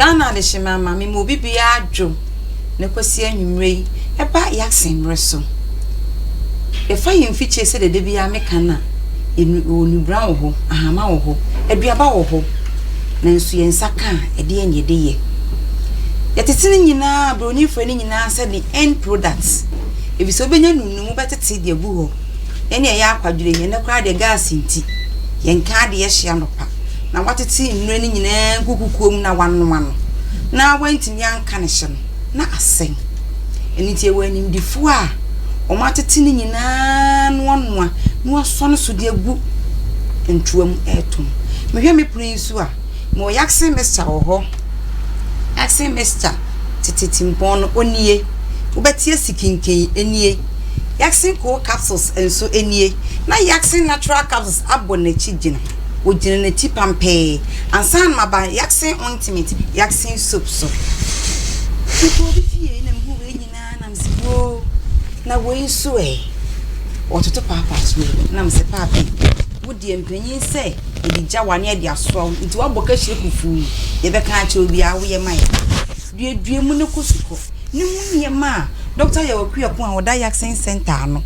Ghana adehyema ama me ma obi biara dwo ne Kwasi anwumerɛ yi ɛba Yaksen mmerɛ so. Yɛfa yɛn mfikyire sɛdeɛ da biara meka no a, yɛwɔ nubra wɔ hɔ, ahama wɔ hɔ, aduaba wɔ hɔ, nanso yɛn nsa ka a, ɛdeɛn na yɛde yɛ? Yɛtete ne nyinaa, Buroni frɛ ne nyinaa sɛ the end product, efisɛ wobɛnya no num, wobɛtete de agu hɔ. Yɛn deɛ ɛyɛ akwadwerɛ, ɛnnɛ koraa deɛ gas nti, yɛnka adeɛ hye anɔpa. na wɔatete nnura no nyinaa gu kukuo mu na wɔanoa no, na wɔantumi anka ne hye no, na asɛe. Ɛno nti yɛwɔ animdefoɔ a wɔatete ne nyinaa na wɔanoa na wɔasɔ no so de agu ntoa mu retɔn. Mehwɛ me pono yi nso a, mewɔ Yaksen mixture wɔ hɔ. Yaksen mixture tete timpɔn no, ɔnie. Wobɛte asi kinken, ɛnie. Yaksen cold capsules nso nie, na Yaksen natural capsules abɔ n'akyi gyina. wogyina n'akyi pampee. Ansa na maba Yaksen ointment, Yaksen soap so. Mekɔɔ obi fie na mehuu wei nyinaa na mese woo na wei nso ɛ. Wɔtoto paapa so yi na mese paapi wo deɛ mpanyin sɛ yɛde gya wa ne yɛde asoa wo nti wabɔ kahyire fufuu yi deɛ bɛka akyerɛ obiara woyɛ ma yɛ. Duadua mu no kɔ sukɔ no ho nneɛma a Dɔkta Yawaku Apon a ɔda Yaksen Centre ano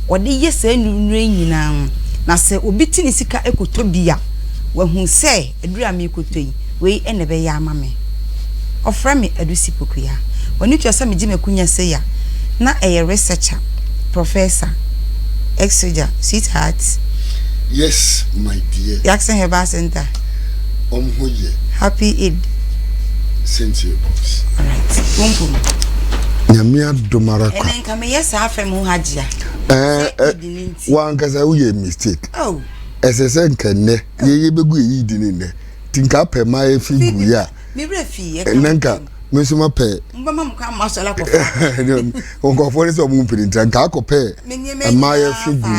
ɔde yɛ saa nnurunuro yi nyinaa ho na sɛ obi te ne sika kɔtɔ bi a wahu sɛ aduru a merekɔtɔ yi wei na ɛbɛyɛ ama me. Ɔfrɛ me Adusi Pokuya. W'ani tua sɛ megye m'akunya sei a na ɛyɛ researcher, professor, ex-soldier, sweetheart. Yes my dear. Yaksen Herbal Centre. wɔn ho yɛ. Happy Eid. Sɛntie boss. Alright. Pumpu no. Nyame adom ara kwa. Ɛnɛ nka meyɛ saa afɛ mu hajj a. Ɛɛ eh, eh, wankasa woyɛ mistake. Oh. Ɛsɛ sɛ nka nnɛ yɛyɛ bɛgu ɛyi di ne nnɛ nti nka apɛ ma ɛfi gu yɛ a ɛnɛ nka me nso ma pɛ nkɔfoɔ ne sɛ ɔmo mpiri ntra nka akɔpɛ ɛma yɛfi gu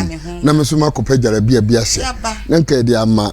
na me nso ma kɔpɛ gyarabia bi ahyɛ na nka ɛde ama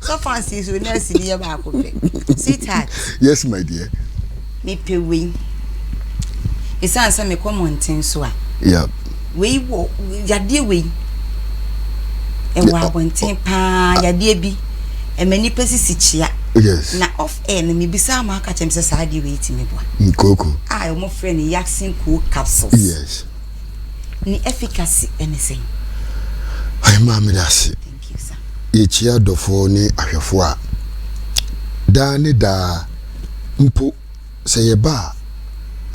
So fancy so nurse ni yɛ baako pɛ. Sweetheart. Yes my dear. Me pɛ wei. Esan sɛ me kɔ mɔnten so a. Yeah. Wei wɔ yadeɛ wei. Ɛwɔ abɔnten paa yadeɛ bi. Ɛmɛ nipa sisi kyia. Yes. Na off air no me bisa ama aka kyɛm sɛ saa adeɛ wei ti me boa. Nkoko. A wɔn frɛ no yaksin kuo capsules. Yes. Ni efficacy ɛne sɛn. Ayi maa mi da ase. Yekyia adɔfo ne ahwɛfo a, daa ne daa mpo, sɛ yɛba a,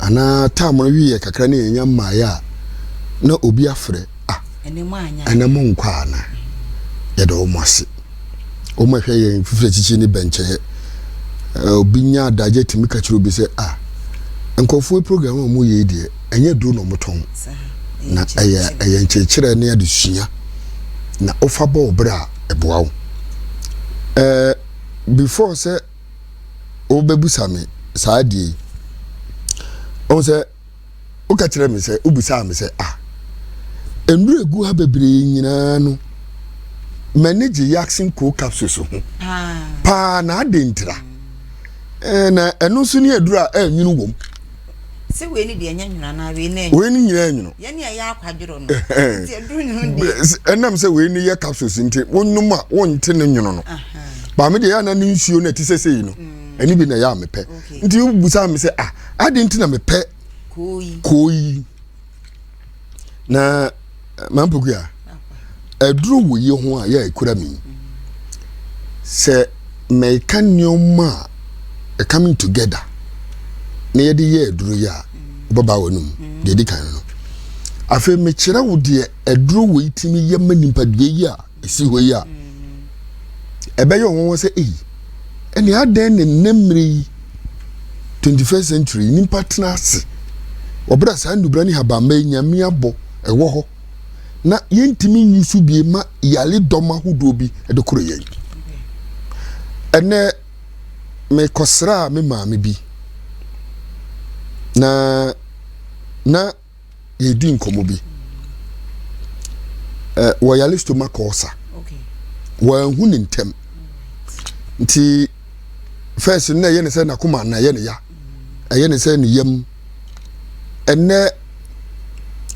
anaa tam no wiɛ kakra na yɛannya mmaeɛ a, na obi afrɛ, Ah, ɛnnɛ monkɔ anaa? Yɛda wɔn ase. Wɔn a ɛhwɛ yɛn fifiri akyikyi ne bɛnkyɛeɛ. Obi nya adagyeɛ tumi ka kyerɛ obi sɛ, Ah, nkurɔfoɔ yi program a wɔyɛ yi deɛ, ɛnyɛ duro na wɔtɔn na ɛyɛ ɛyɛ nkyerɛkyerɛ ne adesua na wofa bɔ wo berɛ a ɛboa wo ɛɛ before sɛ wobɛbusa me saa deɛ yi ɔhu sɛ woka kyerɛ me sɛ wobusaa me sɛ ah nnuro egu ha bebree nyinaa no m'ani gye yaksin cold capsules ho paa na adentira ɛɛ na ɛno nso ne aduro a ɛnwunu wɔm. sɛ wei ne deɛ ɛnyɛ nwono anaa wei ne wei ne nyinaa nwono yɛn ne ɛyɛ akwadworo no nti ɛduru nwono deɛ ɛnam sɛ wei ne yɛ capsules nti wonom a wonte ne nwono no maame deɛ yɛ ana ne nsuo no ɛte sɛ sɛyi no mm. ɛne bi na ɛyɛ a mepɛ nti wobusa me sɛ ah ade nti na mepɛ koo yi na mampogua aduru wo yi ho a yɛ ekura mi sɛ mɛka nneɛma a ɛcoming together na yɛde yɛ aduru yi a wobɛba wɔ nom deɛ di kan no afei mekyerɛ wo deɛ aduru wo yi tumi yɛ ma nipadua yi a ɛsi hɔ yi a, ɛbɛyɛ wɔn nwanwa sɛ, ei, ɛne adɛn ne nnɛ mmere yi, 21st century, nnipa tena ase wɔ berɛ a saa nnubra ne habamma yi nyame abɔ ɛwɔ hɔ na yɛntumi nyi so bie ma yare dɔm ahodoɔ bi de koro yɛn. Ɛnɛ, mekɔsraa me maame bi na na yɛredi nkɔmmɔ bi eh, wɔyare stomach ulcer wɔanhu ne ntɛm nti first na ɛyɛ ne sɛ n'akoma na ɛyɛ ne ya ɛyɛ ne sɛ ne yam ɛnɛ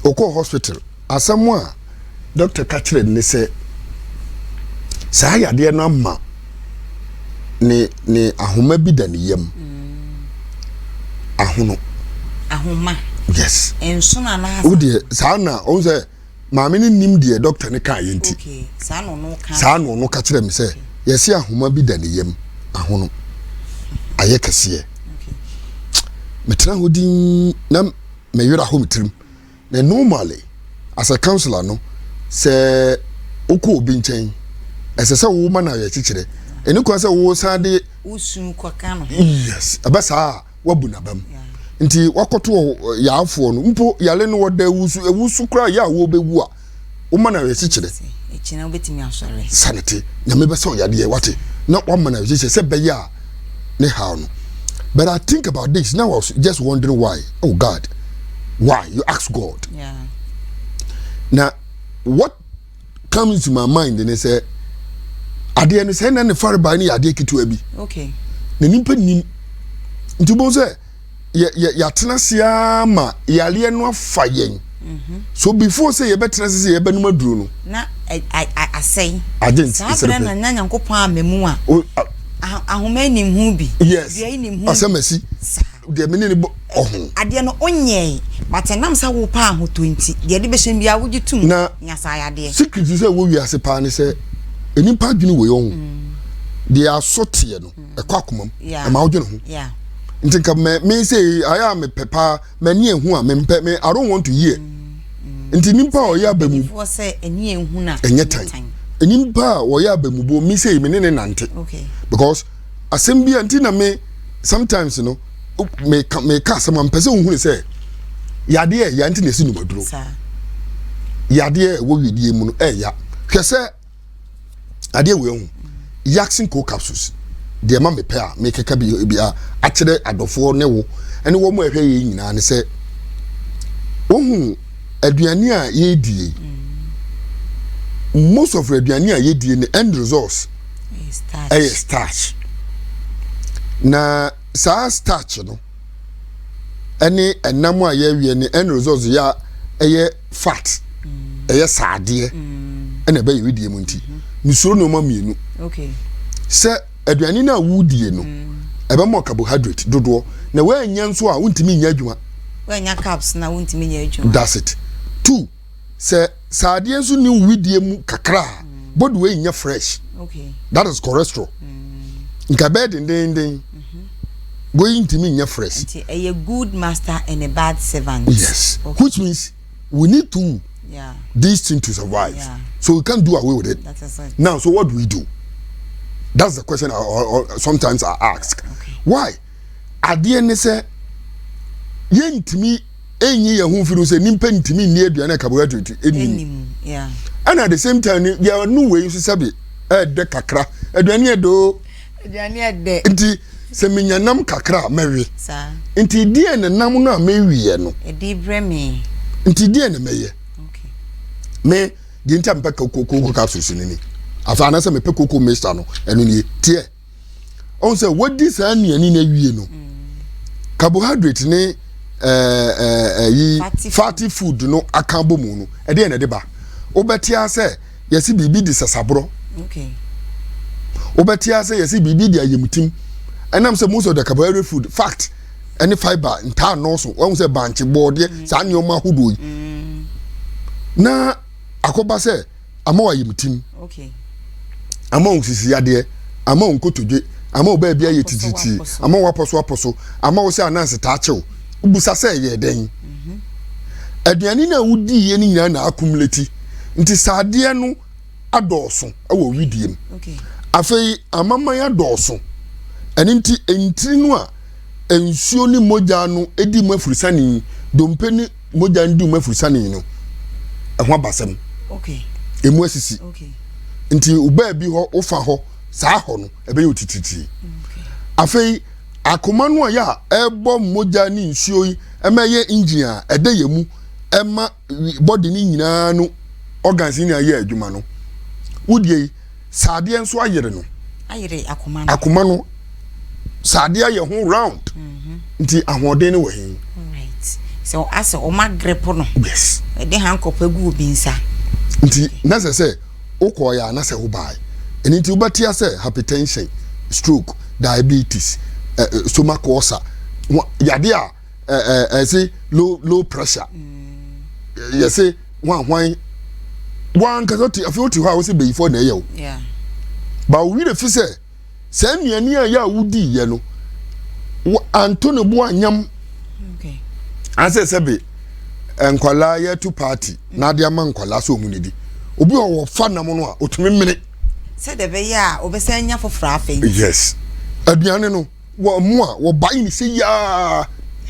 ɔkɔ hospital asɛm a dɔkta ka kyerɛ no ne sɛ saa yadeɛ no ama ne ne ahoma bi da ne yam ahono ahoma yes nsono anaasa wo deɛ saa na ɔhu sɛ maame no nim deɛ dɔkta no kaa yɛ nti saa na ɔno ka kyerɛ me sɛ yɛse ahoma bi da ne yam ahono ayɛ kɛseɛ metena hɔ din na meyera hɔ me tirim Na normally as a counsellor no sɛ wokɔ obi nkyɛn ɛsɛ sɛ woma no awerɛkyekyerɛ ɛni kwan sɛ wosan de wosu kɔka no ho yes ɛbɛ saa a wabu n'abam nti wakɔto yarefoɔ no mpo yare no wɔda wusu wusu koraa yɛ a wɔbɛwu a woma no awerɛkyekyerɛ sane te nyame bɛsɛ ɔyadeɛ wate na wama no awerɛkyekyerɛ sɛ bɛyɛ a ne haw no but i think about this now i was just wondering why oh god why you ask god yeah. na what comes to my mind ne sɛ adeɛ no sɛ na ne farebae no yɛ adeɛ ketewa bi okay. na nipa nim nti wobɛhu sɛ yɛatena ase ara ma yareɛ no afa yɛn mhm. so before sɛ yɛbɛtena ase sɛ yɛbɛnom aduro no na asɛe saa berɛ na nya nyankopɔn amamu a ahoma anim ho bi dua anim ho asɛm asi deɛ mene ne bɔ ɔho adeɛ no wonyɛe but ɛnam sɛ wo paa ho tɔ nti deɛ de bɛhyɛ biara wogye tom na nya saa yadeɛ secret sɛ wɔ wiase paa ne sɛ nnipa adwene wɔ yɛ ho mm. deɛ asɔ teɛ no ɛkɔ akoma mu ɛma wodwene ho nti nka mɛ me sɛ ayɛ a mepɛ paa m'ani ehu a mempɛ me i don't want to hear mm-hmm. nti nipa a ɔyɛ abamu ɛnyɛ tan nipa a ɔyɛ abamu bo me sɛ me ne ne nante because asɛm bi a nti na me sometimes no meka meka asɛm a mpɛ sɛ wohunu sɛ yadeɛ ɛya nti na ɛsi numaduro yadeɛ ɛwɔ wiedie mu no ɛya hwɛ sɛ adeɛ wei ho yasin co capsules deɛ ma mepɛ a mekeka bi bi a akyerɛ adɔfoɔ ne wo ɛne wɔn a ɛhwɛ yɛn nyinaa ne sɛ wohu aduane a yɛdie most of aduane a yɛdie ne end results ɛyɛ starch na saa starch no ɛne ɛnam a yɛawie ne end results yɛ a ɛyɛ fat ɛyɛ saadeɛ ɛna ɛbɛ yɛ wedeɛ mu nti mesuro nneɛma mmienu sɛ aduane no a wodie no ɛbɛma carbohydrate dodoɔ na woanya nso a wontumi nyɛ adwuma woanya caps na wontumi nyɛ adwuma that's it two sɛ saadeɛ nso ne wedie mu kakra a body wei nyɛ fresh okay. that is cholesterol mm. nka ɛbɛyɛ dendenden Wei ntumi nyɛ fresh. Nti ɛyɛ good master and a bad servant. Yes. Okay. Which means we need to yeah. this thing to survive. Yeah. So we can't do away with it. That is it. Now, so what do we do? That's the question I, or, or sometimes I ask. Okay. Why? Adeɛ ne sɛ yɛntumi ɛnyi yɛn ho mfiri sɛ nimpa ntumi nni aduane a carbohydrate ɛnim. And at the same time, yɛn no wei nso sɛbi ɛɛdɛ kakra aduane ɛdɛ o. aduane a ɛdɛ. Nti sɛ menya nam kakra a, mɛwe. Saa. Nti deɛ na nam no a meweɛ no. Ɛde brɛ me. Nti deɛ na mɛyɛ. Okay. Me deɛ nti a mepɛ koko koko capsules no ni. Afa anasɛ mepɛ koko mixture no ɛno nie teɛ. Ɔn sɛ wadi saa nnuane no awie no. Mm. Carbohydrate ne ɛɛ eh, ɛɛ eh, ɛyi eh, fatty food no aka bɔ mu no ɛdeɛ na ɛde ba. Wobɛte asɛ. Yɛse biribi de sasaborɔ. Wobɛte ase yɛse biribi de ayamtim. Ɛnam sɛ most of the carbohydrate food fact ɛne fiber ntaa nnɔɔso. Wɔn sɛ bankye, bɔɔdeɛ, mm. saa nneɛma ahodoɔ yi. Mm. Na akɔba sɛ ama wɔ ayamtim. Ama wɔn sisi yadeɛ, ama wɔn kotodwe, ama wɔ baabi ayɛ tititi, ama wɔ apɔso apɔso, ama wɔ sɛ anansi taa kyew. Busa sɛ ɛyɛ dɛn? Mhm. Aduane no a wodi yɛ no nyinaa na akumuleti. nti sɛ adeɛ no adɔɔso wɔ wedeɛ mu okay. afei amaman adɔɔso ɛno nti ntiri no a nsuo ne mogya no di mu afurisane dompe ne mogya no di mu afurisane no ɛho abasɛm okay. ɛmu asisi okay. nti wobaa bi hɔ wofa hɔ saa hɔ no ɛbɛyɛ otititiri okay. afei akoma no a yɛ a ɛbɔ mogya ne nsuo yi ɛma ɛyɛ engine a ɛda yɛ mu ɛma body no nyinaa no organs no nyinaa yɛ adwuma no wodeɛ yi saadeɛ nso ayere no ayere akoma no akoma no saadeɛ ayɛ ho round mhm. nti ahoɔden no wɔ he sɛ asɛ ɔma grepo no yes ɛde hankɔpɛ gu obi nsa nti na sɛ sɛ wokɔɔyɛ a na sɛ wobae ɛno nti wobɛtea sɛ hypertension stroke diabetes eh, eh, stomach ulcer yadeɛ a ɛse low low pressure yɛse hwanhwan wankasa ɔte afei ɔte hɔ a wɔsɛ bɛyifoɔ na ɛyɛ o ba ɔwerɛ fi sɛ saa nnuane a yɛ a wodi yɛ no anto ne bo anyam asɛ sɛ be nkwadaa yɛto party na ade ama nkwadaa sɛ ɔmu ne di obi a wɔfa nam no a ɔtumi mene sɛ dɛ bɛyɛ a wɔbɛsɛ anya foforɔ afei yes aduane no wɔ mu a wɔba yi ne sɛ yaa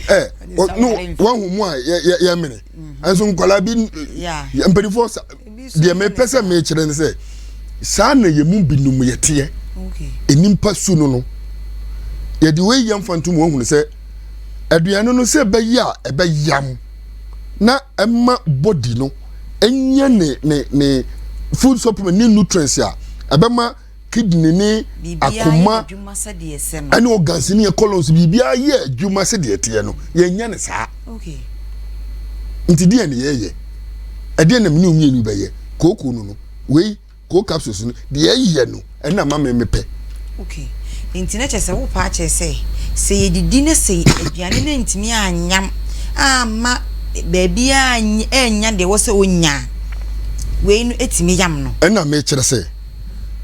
ɛ wɔahu mu a yɛmene ɛnso mm-hmm. nkwadaa bi mpanimfoɔ deɛ mepɛ sɛ mekyerɛ ne sɛ saa na yɛ mu binom yɛteɛ nnipa su no no yɛde wei yɛ mfa ntom wɔahunu sɛ aduane no sɛ ɛbɛyɛ a ɛbɛyam na ɛma body no ɛnyɛ ne ne ne food supplement ne nutrients a ɛbɛma kidney ne akoma ne organs ne yɛ colons biribiara yɛ adwuma sɛdeɛ ɛteɛ no yɛnyɛ no saa nti deɛ ne yɛyɛ ɛdeɛ na mene mmienu bɛyɛ kooko no no wei koo capsules no deɛ ɛyɛ no ɛna ma me mepɛ okay nti na kyerɛ sɛ wopa akyerɛ sɛ sɛ yɛdidi na sɛ aduane no ntumi anyam ama baabi a ɛnya deɛ wɔ sɛ ɔnya wei no ɛtumi yam no ɛna mekyerɛ sɛ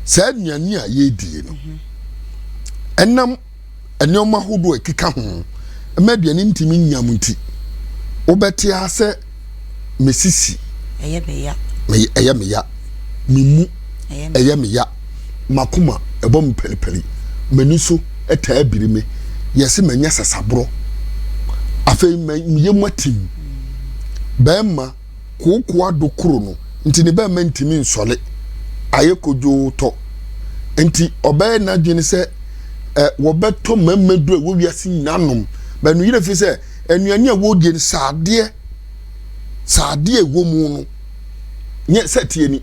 saa nnuane a yɛredie no ɛnam nneɛma ahodoɔ a ɛkeka ho ma aduane ntumi nyam nti wobɛte ara sɛ mesisi ɛyɛ meya ɛyɛ meya memu ɛyɛ meya makoma ɛbɔ me pɛripɛri m'ani so ɛtaa biri me yɛse manya sasaborɔ afei meyɛ mu atim bɛrima kooko-ado koro no nti ne bɛmma ntumi nsɔre, ayɛ kodwoo tɔ. Nti ɔbɛyɛ n'adwene sɛ ɛ wɔbɛtɔ mmarima duru a ɛwɔ wiase nyinaa nom. Bɛ no yerɛ fi sɛ anuane a wɔredie no saadeɛ saadeɛ a ɛwɔ mu no nyɛ sɛ teɛ ni.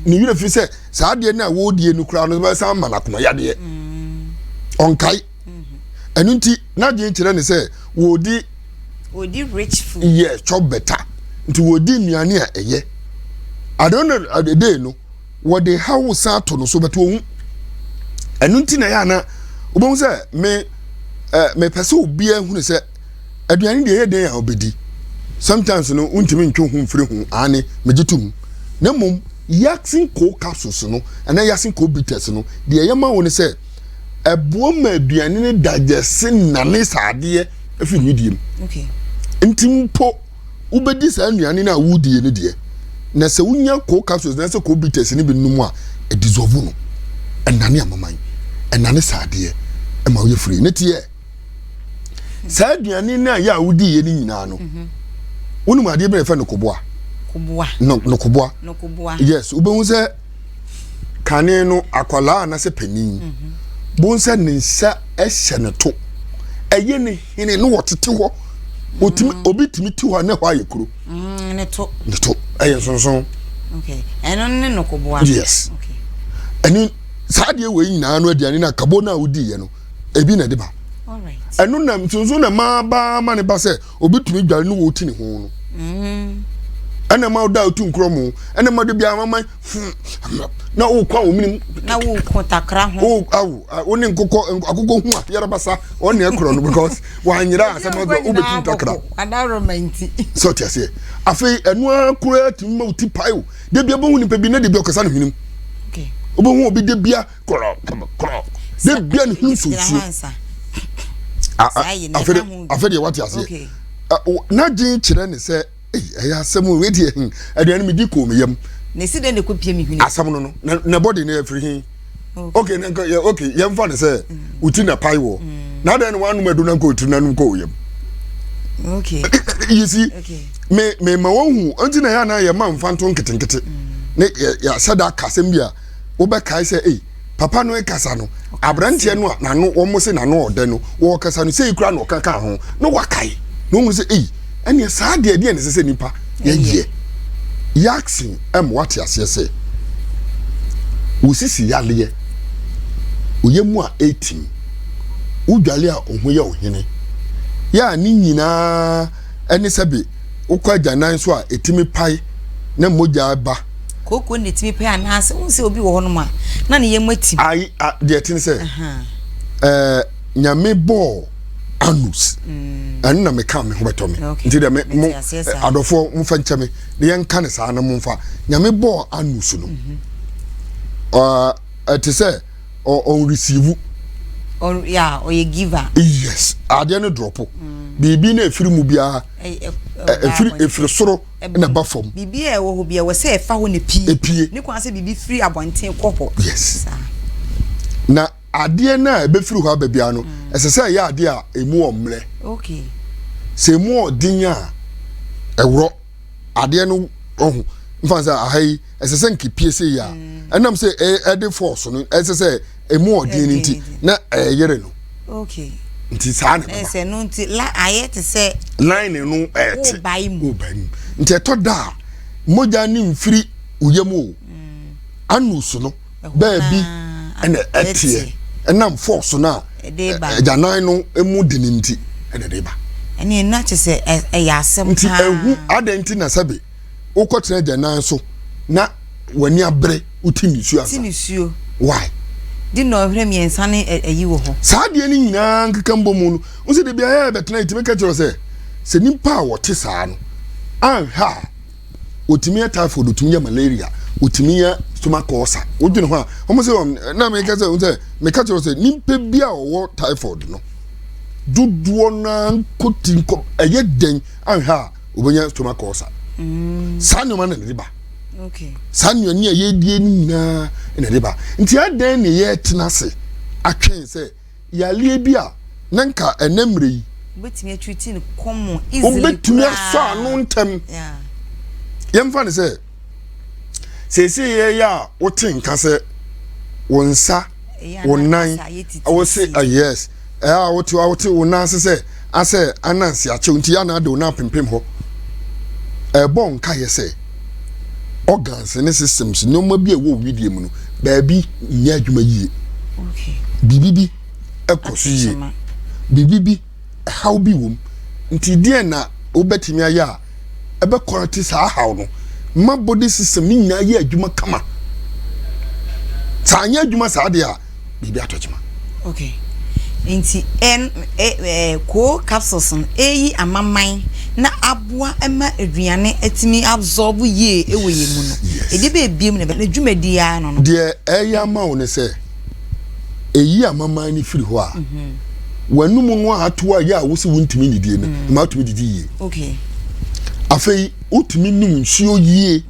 Ne yerɛ fi sɛ saadeɛ no a wɔredie no koraa no bɛsan ama no akoma yadeɛ. Ɔnkae. Mm-hmm. Ɛno nti n'adwene kyerɛ ne sɛ wɔdi wɔdi rich food. Yɛ chop better nti wɔdi nnuane a ɛyɛ. At the end of the day no wɔde hawo san ato no so bɛtɔ ohu. Ɛno nti na yɛ ana wobɛhu sɛ me ɛɛ mepɛ sɛ obiara hunu sɛ aduane deɛ ɛyɛ den a ɔbɛdi sometimes no wontumi ntwe ho mfiri ho aane megye tom na mmom yasin coal capsules no ɛna yasin coal bitters no deɛ ɛyɛ ma wo ne sɛ ɛboa ma aduane no dagyɛse nane saa adeɛ afiri ne deɛ mu nti mpo wobɛdi saa nnuane no a wodie no deɛ na sɛ wonya coal capsules na sɛ coal bitters no bi nom a ɛdissolve no ɛnane amoman ɛnane saa adeɛ ɛma woyɛ firi ne teɛ saa aduane no a yɛ a wodiiɛ no nyinaa no mhm. wonim adeɛ bɛrɛ fɛ no koboa no koboa yes wobɛhu sɛ kane no akwadaa anasɛ panin bohu sɛ ne nsa hyɛ ne to ɛyɛ ne hene no wɔtete hɔ otumi mm. obi tumi ti hɔ a ne hɔ ayɛ kuro mm, ne to ne to ɛyɛ nsonson ɛno ne nokoboa yes ɛne saa deɛ wei nyinaa no aduane no akabo no a wodiiɛ no ebi na ɛde ba ɛno na nsonson na maa baa ma ne ba sɛ Obi tumi dware ne wɔti ne ho no. Ɛna ma ɔda otu nkorɔ mu. Ɛna ma de bi ama man fun. Na o kɔ wɔn minim. Na o ko takra ho. O awo o ne nkokɔ akokɔ hu a yɛrɛ basa ɔne ɛkorɔ no because wanyera asɛm ɔdɔ o bɛ tu takra. Adaroma nti. Sɛ ɔte aseɛ. Afei ɛnu akora tumi ma o ti pae o. Debi ɛbɛhu nipa bi na debi ɔkasa ne hwenem. Ɔbɛhu obi debia. korɔ korɔ de bia ne ho nsuo nsuo afɛ deɛ wate aseɛ n'adwene kyerɛ ne sɛ ɛyɛ asɛm o ɛdeɛ hmm, aduane medi kɔɔ me yam na ɛsi dɛ na ɛkɔ pie me hwene asɛm no no na bɔde no afiri he ok na nka yɛ ok yɛmfa ne sɛ mm. woti na pae wɔ mm. na adɛn no wanom adu na nka ɔtiri nanom kɔ ɔyam okay you see okay. me me ma wɔhu ɔnti na yɛ anaa yɛ ma mfa nto nketenkete mm. ne yɛ yɛ asɛ da akasɛm bi a wobɛkae sɛ ei papa no kasa no aberanteɛ no a n'ano wɔn se n'ano ɔdɛ no wɔkasa no sei kura na ɔka ka ho na wakae na wɔn sɛ ei ɛneɛ saa deɛ deɛ ne sɛ sɛ nipa yɛyɛ yaksin ɛma wate aseɛ sɛ wosisi yaleɛ oyɛ mu a etim wodwale a ɔho yɛ ɔhene yɛ a ne nyinaa ɛne sɛbe wokɔ agyanan so a etimi pae na mogya ba Kooko na ɛtumi pɛ anaasɛ wohu sɛ obi wɔ hɔ nom a na ne yam atim. Ayi a deɛ ɛte ne sɛ ɛɛ nyame bɔɔ anus mm. ɛno na meka me ho bɛtɔ me nti dɛ mo adɔfoɔ momfa nkyɛ me na yɛnka ne saa na momfa nyame bɔɔ anus no mhm. ɛte sɛ ɔnreceive ɔyɛ giver yes adeɛ no drɔpo mm. biribi na ɛfiri mu biara ɛfiri soro ɛna ɛba fam. Biribi a ɛwɔ hɔ bi ɛwɔ sɛ ɛfa hɔ na epie. Epie. Ne kwan sɛ biribi firi abɔnten kɔ hɔ. Yes. Saa. Na adeɛ no a ɛbɛfiri hɔ aba biara no, mm. ɛsɛ sɛ ɛyɛ adeɛ a ɛmu ɔmmerɛ. Okay. Sɛ ɛmu ɔden a ɛworɔ adeɛ no ɔho mfa sɛ aha yi ɛsɛ sɛ nkepie sɛ yi a mm. ɛnam sɛ ɛde fɔɔso no ɛsɛ sɛ emu ɔden nti na ɛyere no okay nti saa na ɛbɛba ɛsɛ no nti la ayɛ te sɛ line no ɛte wobae mu wobae mu nti ɛtɔ da a mogya ne mfiri oyɛ mu o mm. anus no baabi ɛna ɛteɛ ɛnam force no a agyanan no emu de ne nti ɛna ɛde ba ɛne ɛna kyɛ sɛ ɛyɛ asɛm nti ɛhu adɛn nti na sɛbe wokɔtena agya nan so na w'ani abere woti ne suo ansa. Ti ne suo. Why? Di na ɔhwere mmiɛnsa ne ayi wɔ hɔ. Saa adeɛ no nyinaa nkeka mbɔ mu no, wo sɛ dabi ayɛ bɛtena yi tumi ka kyerɛ sɛ sɛ nipa a wɔte saa no anhwɛ a otumi yɛ typhoid, otumi yɛ malaria, otumi yɛ stomach ulcer. Wodwene ho a, wɔn sɛ wɔn na meka sɛ wɔn sɛ meka kyerɛ sɛ nipa bi a ɔwɔ typhoid no dodoɔ naa nkɔ ti nkɔ ɛyɛ dɛn anhwɛ a wobɛnya stomach ulcer mm. saa nneɛma na ɛde ba saa nnuane a yɛdie no nyinaa na ɛde ba nti adɛn ne yɛtena ase atwɛn sɛ yareɛ bi a na nka ɛnɛ mmerɛ yi wobɛtumi atwiti no kɔmmɔ easily wobɛtumi asɔ ano ntɛm yɛmfa ne sɛ seesei yɛ yɛ a wote nka sɛ wo nsa wo nan wo se ah, yes ɛyɛ a wote a wote wo nan ase sɛ asɛ anansi akyɛw nti yɛ na ade wo nan pempem hɔ ɛbɔ nka yɛ sɛ organs ne systems nneɛma bi a ɛwɔ widie mu no baabi nyɛ adwuma yie biribi bi ɛkɔ so yie biribi bi haw bi wom. Nti deɛn na wobɛtumi ayɛ a ɛbɛ correct saa haw no ma body system ne nyinaa yɛ adwuma kama? Saa anyɛ adwuma saa deɛ a biribi atɔ kyema. Okay. Nti ɛn ɛ ɛ koo capsules no ɛyi amaman na aboa ɛma aduane atumi absorb yie ɛwɔ yɛn mu no. Yes. Ɛdeɛ bɛyɛ biem na ɛbɛ na dwumadie ara no no. Deɛ ɛyɛ ama wo ne sɛ. eyi amaman no firi hɔ a w'anum no a ato a yɛ a wosi wontumi nnidie no ma atumi didi yie afei wotumi num nsuo yie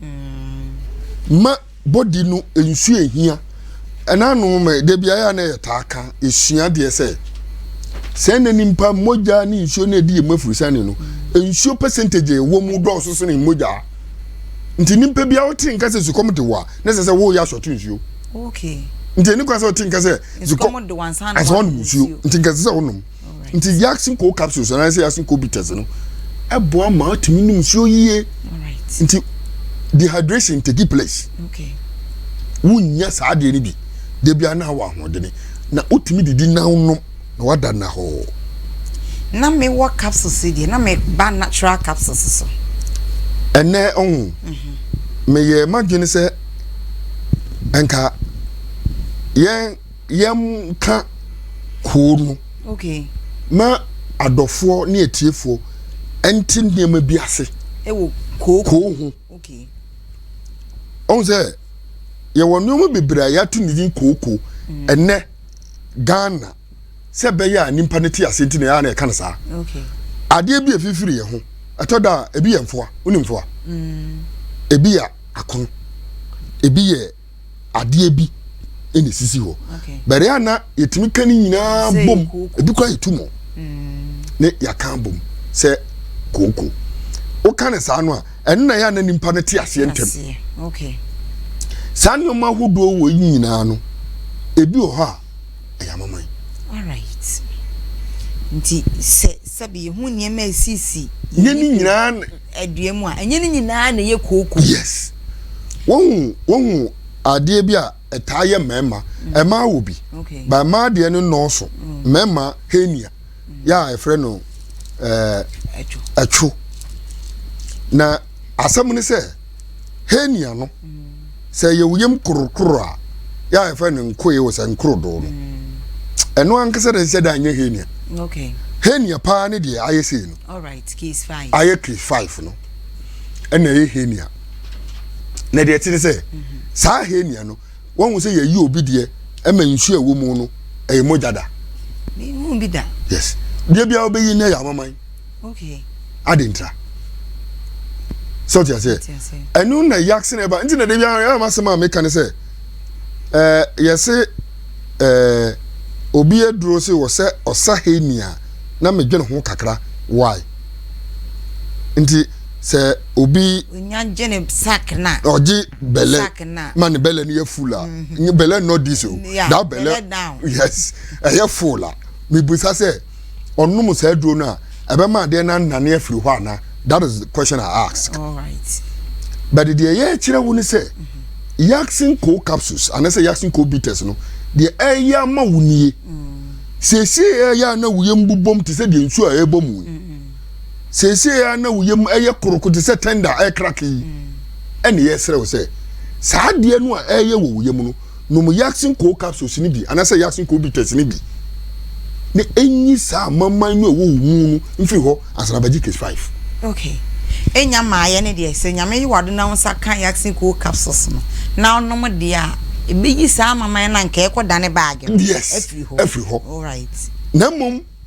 ma body no nsuo ehia ɛna anom ma de bi ayɛ a na yɛ taa ka esua deɛ sɛ sɛ na nipa mogya ne nsuo na edi emu afurusani no nsuo percentage ɛwɔ mu dɔɔso so ne mogya nti nipa bi a wote nka sɛ sukɔm de wɔ a na sɛ sɛ woyɛ asɔto nsuo. okay nti ɛni kwan sɛ ɔte nka sɛ zikɔ ansa ɔnom nsuo nti nka sɛ ɔnom nti yasin ko capsules anaa sɛ yasin ko bitters no ɛboa ma ɔtumi nom nsuo yie nti dehydration take place okay wonnya saa adeɛ no bi debi ana wɔ ahoɔdene na wotumi didi na wonom na wada nnahɔɔ. Na me wɔ capsules yi deɛ, na me ba natural capsules so. Ɛnɛ ɔho, me yɛ m'adwene sɛ nka yɛn yɛn ka hoo no. Okay. Ma adɔfoɔ ne atiefoɔ ɛnti nneɛma bi ase. Ɛwɔ koo koo ho. Okay. Ɔho sɛ yɛwɔ nneɛma bebree a yɛato ne din koo koo. Mm. Ɛnɛ. ghana sɛ bɛyɛ a nipa no te ase nti na yɛa na ɛka no saa adeɛ bi ɛfifiri yɛ ho ɛtɔ da a ebi yɛ mfoa wone mfoa mm. ebi yɛ akono ebi yɛ adeɛ bi ɛna esisi hɔ bɛrɛ a na yɛtumi ka ne nyinaa bom ebi kora yɛtu mu mm. ne yɛaka bom sɛ kooko woka ne saa no a ɛno na ɛyɛ a na nipa no te aseɛ ntɛm saa nneɛma ahodoɔ wɔ yi nyinaa no ebi wɔ hɔ a ɛyɛ amaman nti sɛ sɛbi yɛhu nneɛma a ɛsisi yɛ ne nyinaa adua mu a ɛnyɛ ne nyinaa na ɛyɛ kooko yes wɔhu wɔhu adeɛ bi a ɛtaa yɛ mmarima ɛmaa wɔ bi ba mmaa deɛ no nnɔɔso mmarima henia yɛ a yɛfrɛ no ɛɛ ɛtwo na asɛm no sɛ henia no sɛ yɛ wuyam korokoro a yɛ a yɛfrɛ no nkoe wɔ sɛ nkorodoo no ɛno ankasa na ɛsɛ dɛ nyɛ henia okay henia paa ne deɛ ayɛ sei no alright case five ayɛ case five no ɛna ɛyɛ henia na deɛ ɛte ne sɛ mhm. saa henia no Wahu sɛ yɛyi obi deɛ ɛma nsuo a ɛwɔ mu no ɛyɛ mogya da. Mehu bi da. Yes. Deɛ biara wobɛyi no yɛ amaman. Okay. Ade ntra. Sɛ ɔte aseɛ. Ɛno na yaksene ɛba. Nti na de biara yɛ ama asɛm a meka ne sɛ ɛɛ yɛse ɛɛ obi aduro se wɔ sɛ ɔsa heni a na medwene ho kakra. Why? Nti sɛ obi. onya gye ne sack na. ɔgye bɛlɛ ma ne bɛlɛ no yɛ full a mhm. nye bɛlɛ nɔ dis o da bɛlɛ yes ɛyɛ full a mibisa sɛ ɔnom saa aduro no a ɛbɛma adeɛ no anane afiri hɔ ana that is the question i ask but deɛ ɛyɛ kyerɛ wo ne sɛ mhm. yaxin co capsules anasɛ yaxin co bitters no deɛ ɛyɛ ama wo nie mm. siesie ɛyɛ a na woyɛ mbobom te sɛ deɛ nsuo a ɛbɔ mu yi. Mm. seesei a na wo yam yɛ koroko te sɛ tender a ɛrekrake yi, ɛne yɛsrɛ wo sɛ saa adeɛ no a ɛreyɛ wɔ wo yam no, nom Yaksin Koo capsules no bi anaasɛ Yaksin Koo bitters no bi na ɛnyi saa amamman no a ɛwɔ wo mu no mfiri hɔ ansa na bɛgye case five. Okay. Ɛnya maayɛ no deɛ, sɛ Nyame yi w'ado na wo nsa ka Yaksin Koo capsules no na wonom deɛ a, ɛbɛyi saa amamman no a nka ɛrekɔdane baage no afiri hɔ. Yes, afiri hɔ. Alright. Na mmom.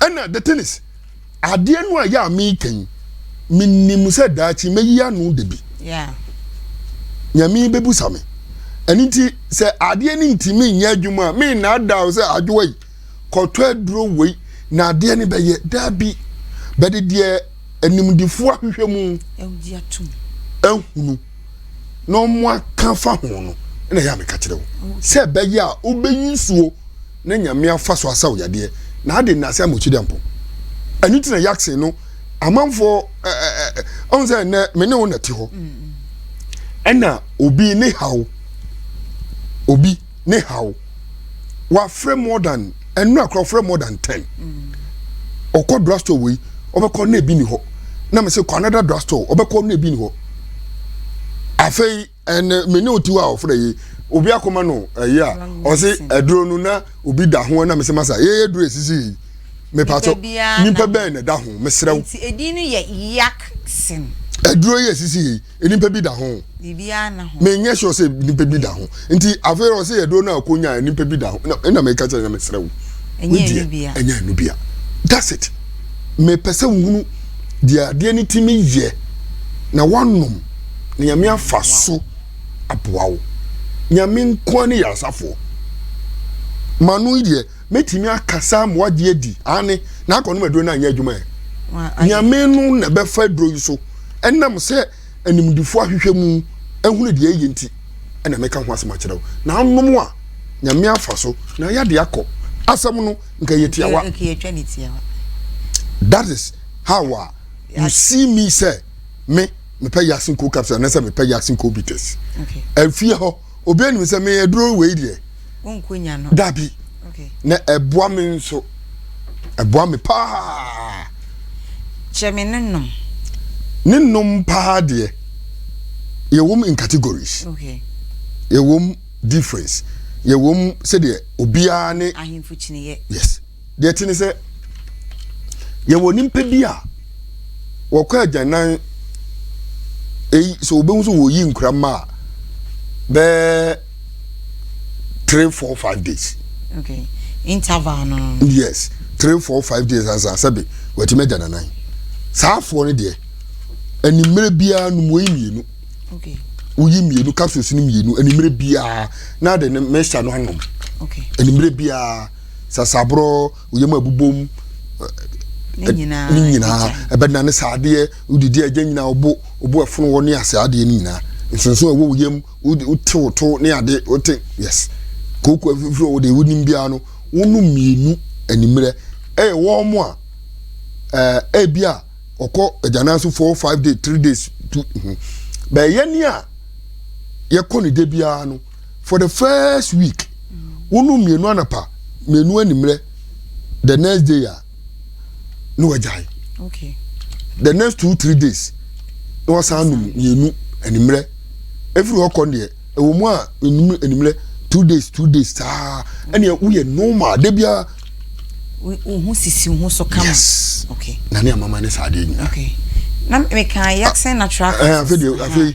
ɛna the thing is adeɛ no a yɛ a meka yi menim sɛ daakye mɛyi ano da bi nyame bɛbusa me ɛno nti sɛ adeɛ no ntimi nyɛ adwuma a mennaadaaw sɛ adwowa yi kɔtɔ aduro wei na adeɛ no bɛyɛ daa bi bɛde deɛ animdefoɔ ahwehwɛ mu ahunu na ɔmo aka fa ho no ɛna yɛ a meka kyerɛ wo sɛ ɛbɛyɛ a wobɛyi nsuo na Nyame afa so asaw yadeɛ na ade nnase ama Otsidiampɔn. Ɛno nti na Yaksen no amanfoɔ ɛ ɛ ɛ ɔhu sɛ nnɛ me ne wo na te hɔ. Ɛna obi ne haw, obi ne haw, wafrɛ more than, ɛnora kora ɔfrɛ more than ten. Ɔkɔ drugstore wei, ɔbɛkɔ na ebi ni hɔ. Na me se kɔ another drugstore, ɔbɛkɔ na ebi ni hɔ. Afei, ɛnɛ eh, me ne wo tiwa a ɔfrɛ yi obi akoma no ɛyi a ɔse aduro no na obi da ho na mesɛ masa yɛyɛ aduro ɛsisi yi mepatɔ nipa bɛn na ɛda ho mesrɛ wo nti ɛdin no yɛ yak sin aduro yi ɛsisi yi nipa bi da ho menyɛ sure sɛ nipa bi da ho nti afei ɔsɛ aduro no a ɔkɔnya nipa bi da ho ɛna meka kyerɛ na mesrɛ wo ɛnyɛ ɛnu bia that's it mepɛ sɛ wohunu deɛ adeɛ no tumi yɛ na woanom na nyame afa so aboa wo nyame nkoa ne yasafoɔ ma no deɛ mɛtumi akasa ama wagye adi ane na akɔnom aduro no anyɛ adwuma ɛ nyame no na bɛfa aduro yi so ɛnam sɛ animdifoɔ ahwehwɛ mu ahunu deɛ ɛyɛ nti ɛna mɛka ho asɛm akyerɛ wo na anom a nyame afa so na yɛde akɔ asɛm no nka yɛ tiawa that is how a you see me sɛ me mepɛ yasin ko capsule anasɛ mepɛ yasin ko bitters ɛfie hɔ obi anim sɛ me aduro wei deɛ wonkonya no dabi na ɛboa me nso ɛboa me paa kyɛ me ne nom ne nom paa deɛ yɛwom in categories okay. yɛwom difference yɛwom sɛdeɛ obiara ne ahemfo kyiniyɛ yes deɛ ɛte ne sɛ yɛwɔ nipa bi a wɔkɔ agyanan eyi sɛ wɔbɛhu sɛ wɔyi nkura mma a bɛɛ three four five days. okay interval no. yes three four five days ansa sɛbi wɔatumi agya nanan saa afoɔ no deɛ animire biara no wɔyi mmienu. okay woyi mmienu capsules no mmienu animire biara na de ne mɛhyɛ no anom okay animire biara. sasaborɔ wo yam abubom ne nyinaa ɛbɛdena ne saa adeɛ wodidi agya nyinaa wobo wobo ɛfono wɔ ne ase adeɛ ne nyinaa nsonso ɛwɔ wo yam wote wo to ne ade wote yes kooko afifiri wɔ deɛ wonim biara no wonom mmienu animmerɛ ɛyɛ wɔn mo a ɛɛ ebi a ɔkɔ agyanan so four five days three days two bɛyɛ ni a yɛkɔ ne de biara no for the first week wonu mmienu anapa mmienu animrɛ the next day a na wagyae okay. the next two three days na wasan nom mmienu animrɛ ɛfiri hɔ kɔ deɛ ɛwɔ mu a enum animrɛ two days two days saa ɛnna woyɛ normal de bia. ohun sisi ohun so kama. yes okay. na ne amama ne saa adeɛ nyinaa. okay na meka yaxen natural. ɛɛ eh, afei de afei.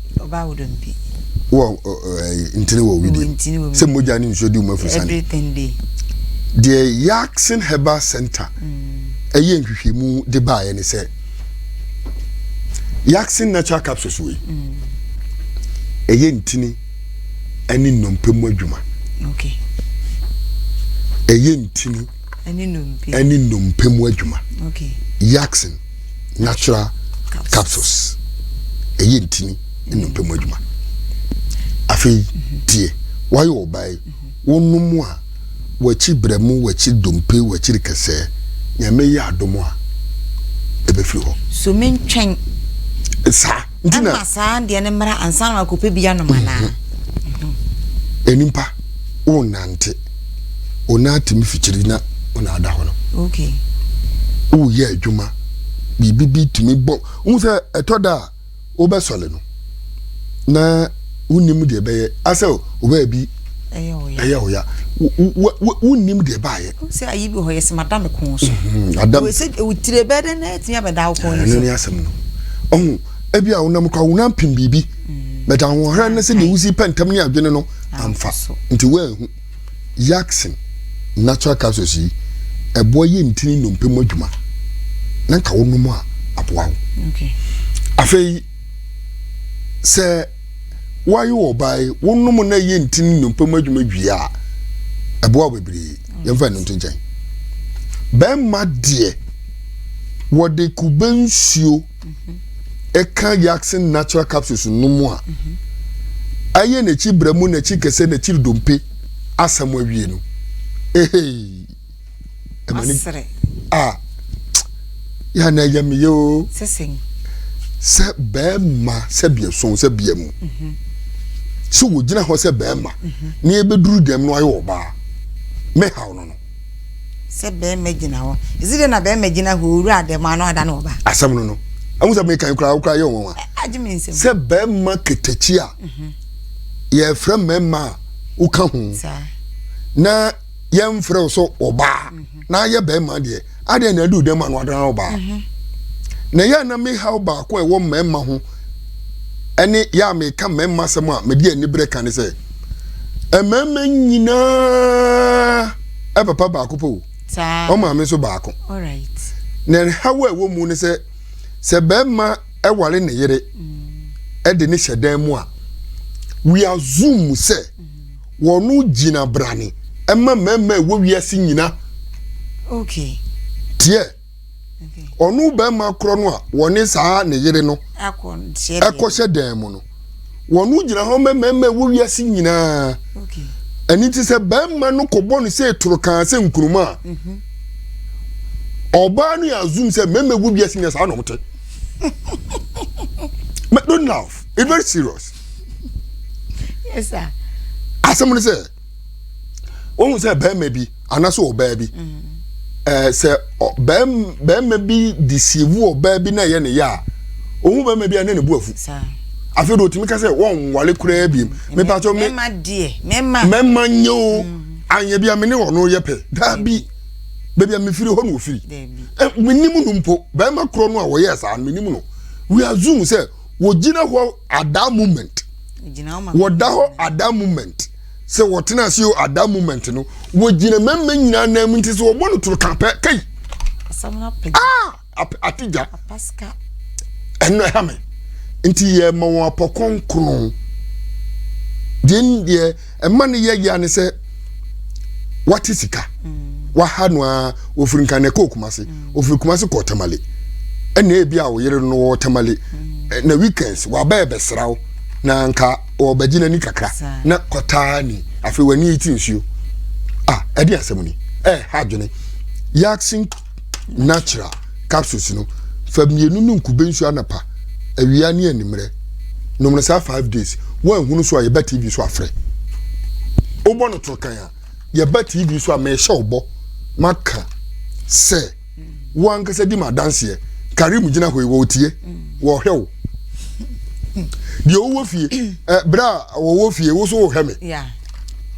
Ɔbaa wo dɔm bi. Wɔ ɛɛ ntini wɔ widi. Ntini wɔ widi. Sɛ mogya ne nsuo di wɔn afusane. Everything dey. Deɛ Yaxin Herbal Center mm. ɛyɛ nhwehwɛmu de baeɛ ne sɛ Yaxin natural capsules wei mm. ɛyɛ ntini ɛne nnompe mu adwuma. Okay. Ɛyɛ ntini ɛne nnompe mu adwuma. Okay. Yaxin. natural capsules ɛyɛ ntini nnompe mu adwuma afei tie wayɛ ɔbaa yi wonom a wakyi berɛ mu wakyi dompe wakyiri kɛsɛɛ nyame yɛ adom a ɛbɛfiri hɔ so mentwɛn saa Nti na. Ɛmma saa adeɛ no mmra ansa na wakɔpɛ bi anom anaa? Nnipa wonante, wo nan atumi fikyiri na wo nan ada hɔ no. Okay. Woyɛ adwuma, biribi bi tumi bɔ. Wohu sɛ ɛtɔ da a wobɛsɔre no na. wonim deɛ ɛbɛyɛ asɛ wobɛyɛ bi ɛyɛ wo ya wonim deɛ ɛbaayɛ sɛ ayi bi hɔ yɛ sɛ mada me kɔn so wotire bɛɛ dɛ na ɛtumi abɛda wo kɔn no so ne asɛm no ɔho ebi a wonam kora wonam pem biribi bɛta ahoɔherɛ no sɛ deɛ wosi pɛ ntam ne adwene no amfa nti woanhu yaksen natural capsules yi ɛboa yɛ ntini nnompe mu adwuma na nka wonom a aboa wo afei sɛ woayɛ ɔbae wonom na ɛyɛ nti ne nnompe mu adwuma wie a ɛboa bebree yɛmfa ɛno nto nkyɛn bɛrima deɛ wɔde kube nsuo ɛka yaksen natural capsules no mu a ɛyɛ n'akyi brɛ mu n'akyi kɛsɛ n'akyiri dompe asɛm awie no ehei ɛma ne asere a yɛ na ɛyɛ me yɛ o sɛ bɛrima sɛ biason sɛ bia mu mhm. sɛ wɔgyina hɔ sɛ bɛrima mhm. na yɛbɛduru dɛm no ayɛ ɔbaa mɛhaw no no sɛ bɛrima gyina hɔ ɛsi dɛ na bɛrima gyina hɔ owura dɛm ano ada no ɔbaa asɛm no no ɛho sɛ mekan koraa wokora yɛ wɔn a sɛ bɛrima ketakyi a mhm. yɛfrɛ mmarima a woka ho na yɛmfrɛ wo sɛ ɔbaa mhm. na ayɛ bɛrima deɛ adeɛ na aduru dɛm a no adana ɔbaa mhm. na yɛ na me haw baako a ɛwɔ mmarima ho ɛne yɛ a meka mmarima asɛm a mede aniberɛ ka ne sɛ mmarima nyinaa ɛpapa baako pɛ o ɔmaame nso baako na ɛhaw a ɛwɔ mu ne sɛ sɛ bɛrima ɛware ne yere mm. ɛde ne hyɛ dan mu a we assume sɛ mm. Wɔgyina brane ma mmarima a ɛwɔ wiase nyina teɛ. Ɔno barima korɔ no a wɔne saa ne yere no kɔhyɛ dan mu no, wɔgyina hɔ ma mmarima a ɛwɔ wiase nyinaa. Ɛno nti sɛ barima no kɔbɔ no sɛ torokaa sɛ nkuruma a, mhm. ɔbaa no yɛ assume sɛ mmarima ɛwɔ wiase nyinaa saa na wɔte. Don't laugh, it's very serious. yes sir asɛm no sɛ wohu sɛ bɛrima bi anaasɛ ɔbaa bi ɛɛ sɛ bɛrima bi disievu ɔbaa bi na ɛyɛ ne yɛ a ohun bɛrima bi a ne ne bu afu afei de otumi ka sɛ wɔn nwale koraa bi mu mepa so mɛma deɛ mɛma mɛma nyɛ o anyɛ bi a me ne wɔn no yɛ pɛ daabi baabi a mefiri hɔ na ofiri menim no mpo bɛrima korɔ no a wɔyɛ saa no menim no we assume sɛ wɔgyina hɔ at that moment wɔda hɔ at that moment sɛ wɔtena ase o at that moment no wɔgyina mmarima nyinaa nan mu nti sɛ wɔbɔ no toro ka pɛ kai ah apagya ɛno ɛha me nti yɛma wɔn apɔkɔn kron deɛ deɛ Ɛma ne yɛ yia ne sɛ wate sika waha no a ofiri nka na ɛkɔ Kumase ofiri Kumase kɔ Tamale ɛna ebi a ɔyere no wɔ Tamale na weekends wabɛɛ bɛsra wo na nka ɔbɛgye n'ani kakra na kɔtaa ni afei w'ani ti nsuo a ɛde asɛm ni ɛha adwene yɛasen natural capsules no fa mmienu nom kube nsuo anapa awia ne animmerɛ nom no saa five days woanhunu so a yɛba tv so afrɛ wobɔ no toro kan a yɛba tv so a mehyɛ wo bɔ maka sɛ wo ankasa di ma adanseɛ kare mu gyina hɔ yi wɔtie wɔhwɛ wo deɛ wowɔ fie eh, berɛ a wɔwɔ fie wo so wohwɛ me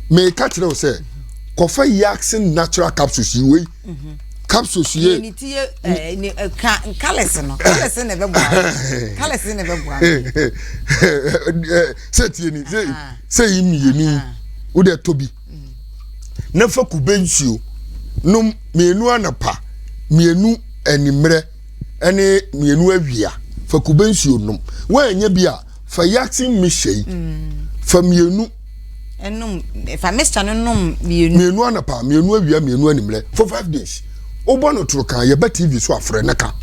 meka kyerɛ wo sɛ kɔfa yaxin natural capsules yi wei capsules yie. yɛ ne ti yɛ ɛɛ ne ɛka eh, nkalɛse no nkalɛse na ɛbɛ bɔ ano nkalɛse na ɛbɛ bɔ ano. sɛ tie ni sɛ sɛ yi mmienu o de ɛtɔ bi na fa kube nsuo nom mmienu anapa mmienu animmerɛ ɛne mmienu awia fa kube nsuo nom wɔn ɛnyɛ bi a fa yasin mi hyɛ yi mm. fa mmienu. ɛnum fa mixture no nom mmienu. mmienu anapa mmienu awia mmienu animrɛ for five days wobɔ no toro kan yɛbɛ tv so afrɛ ne ka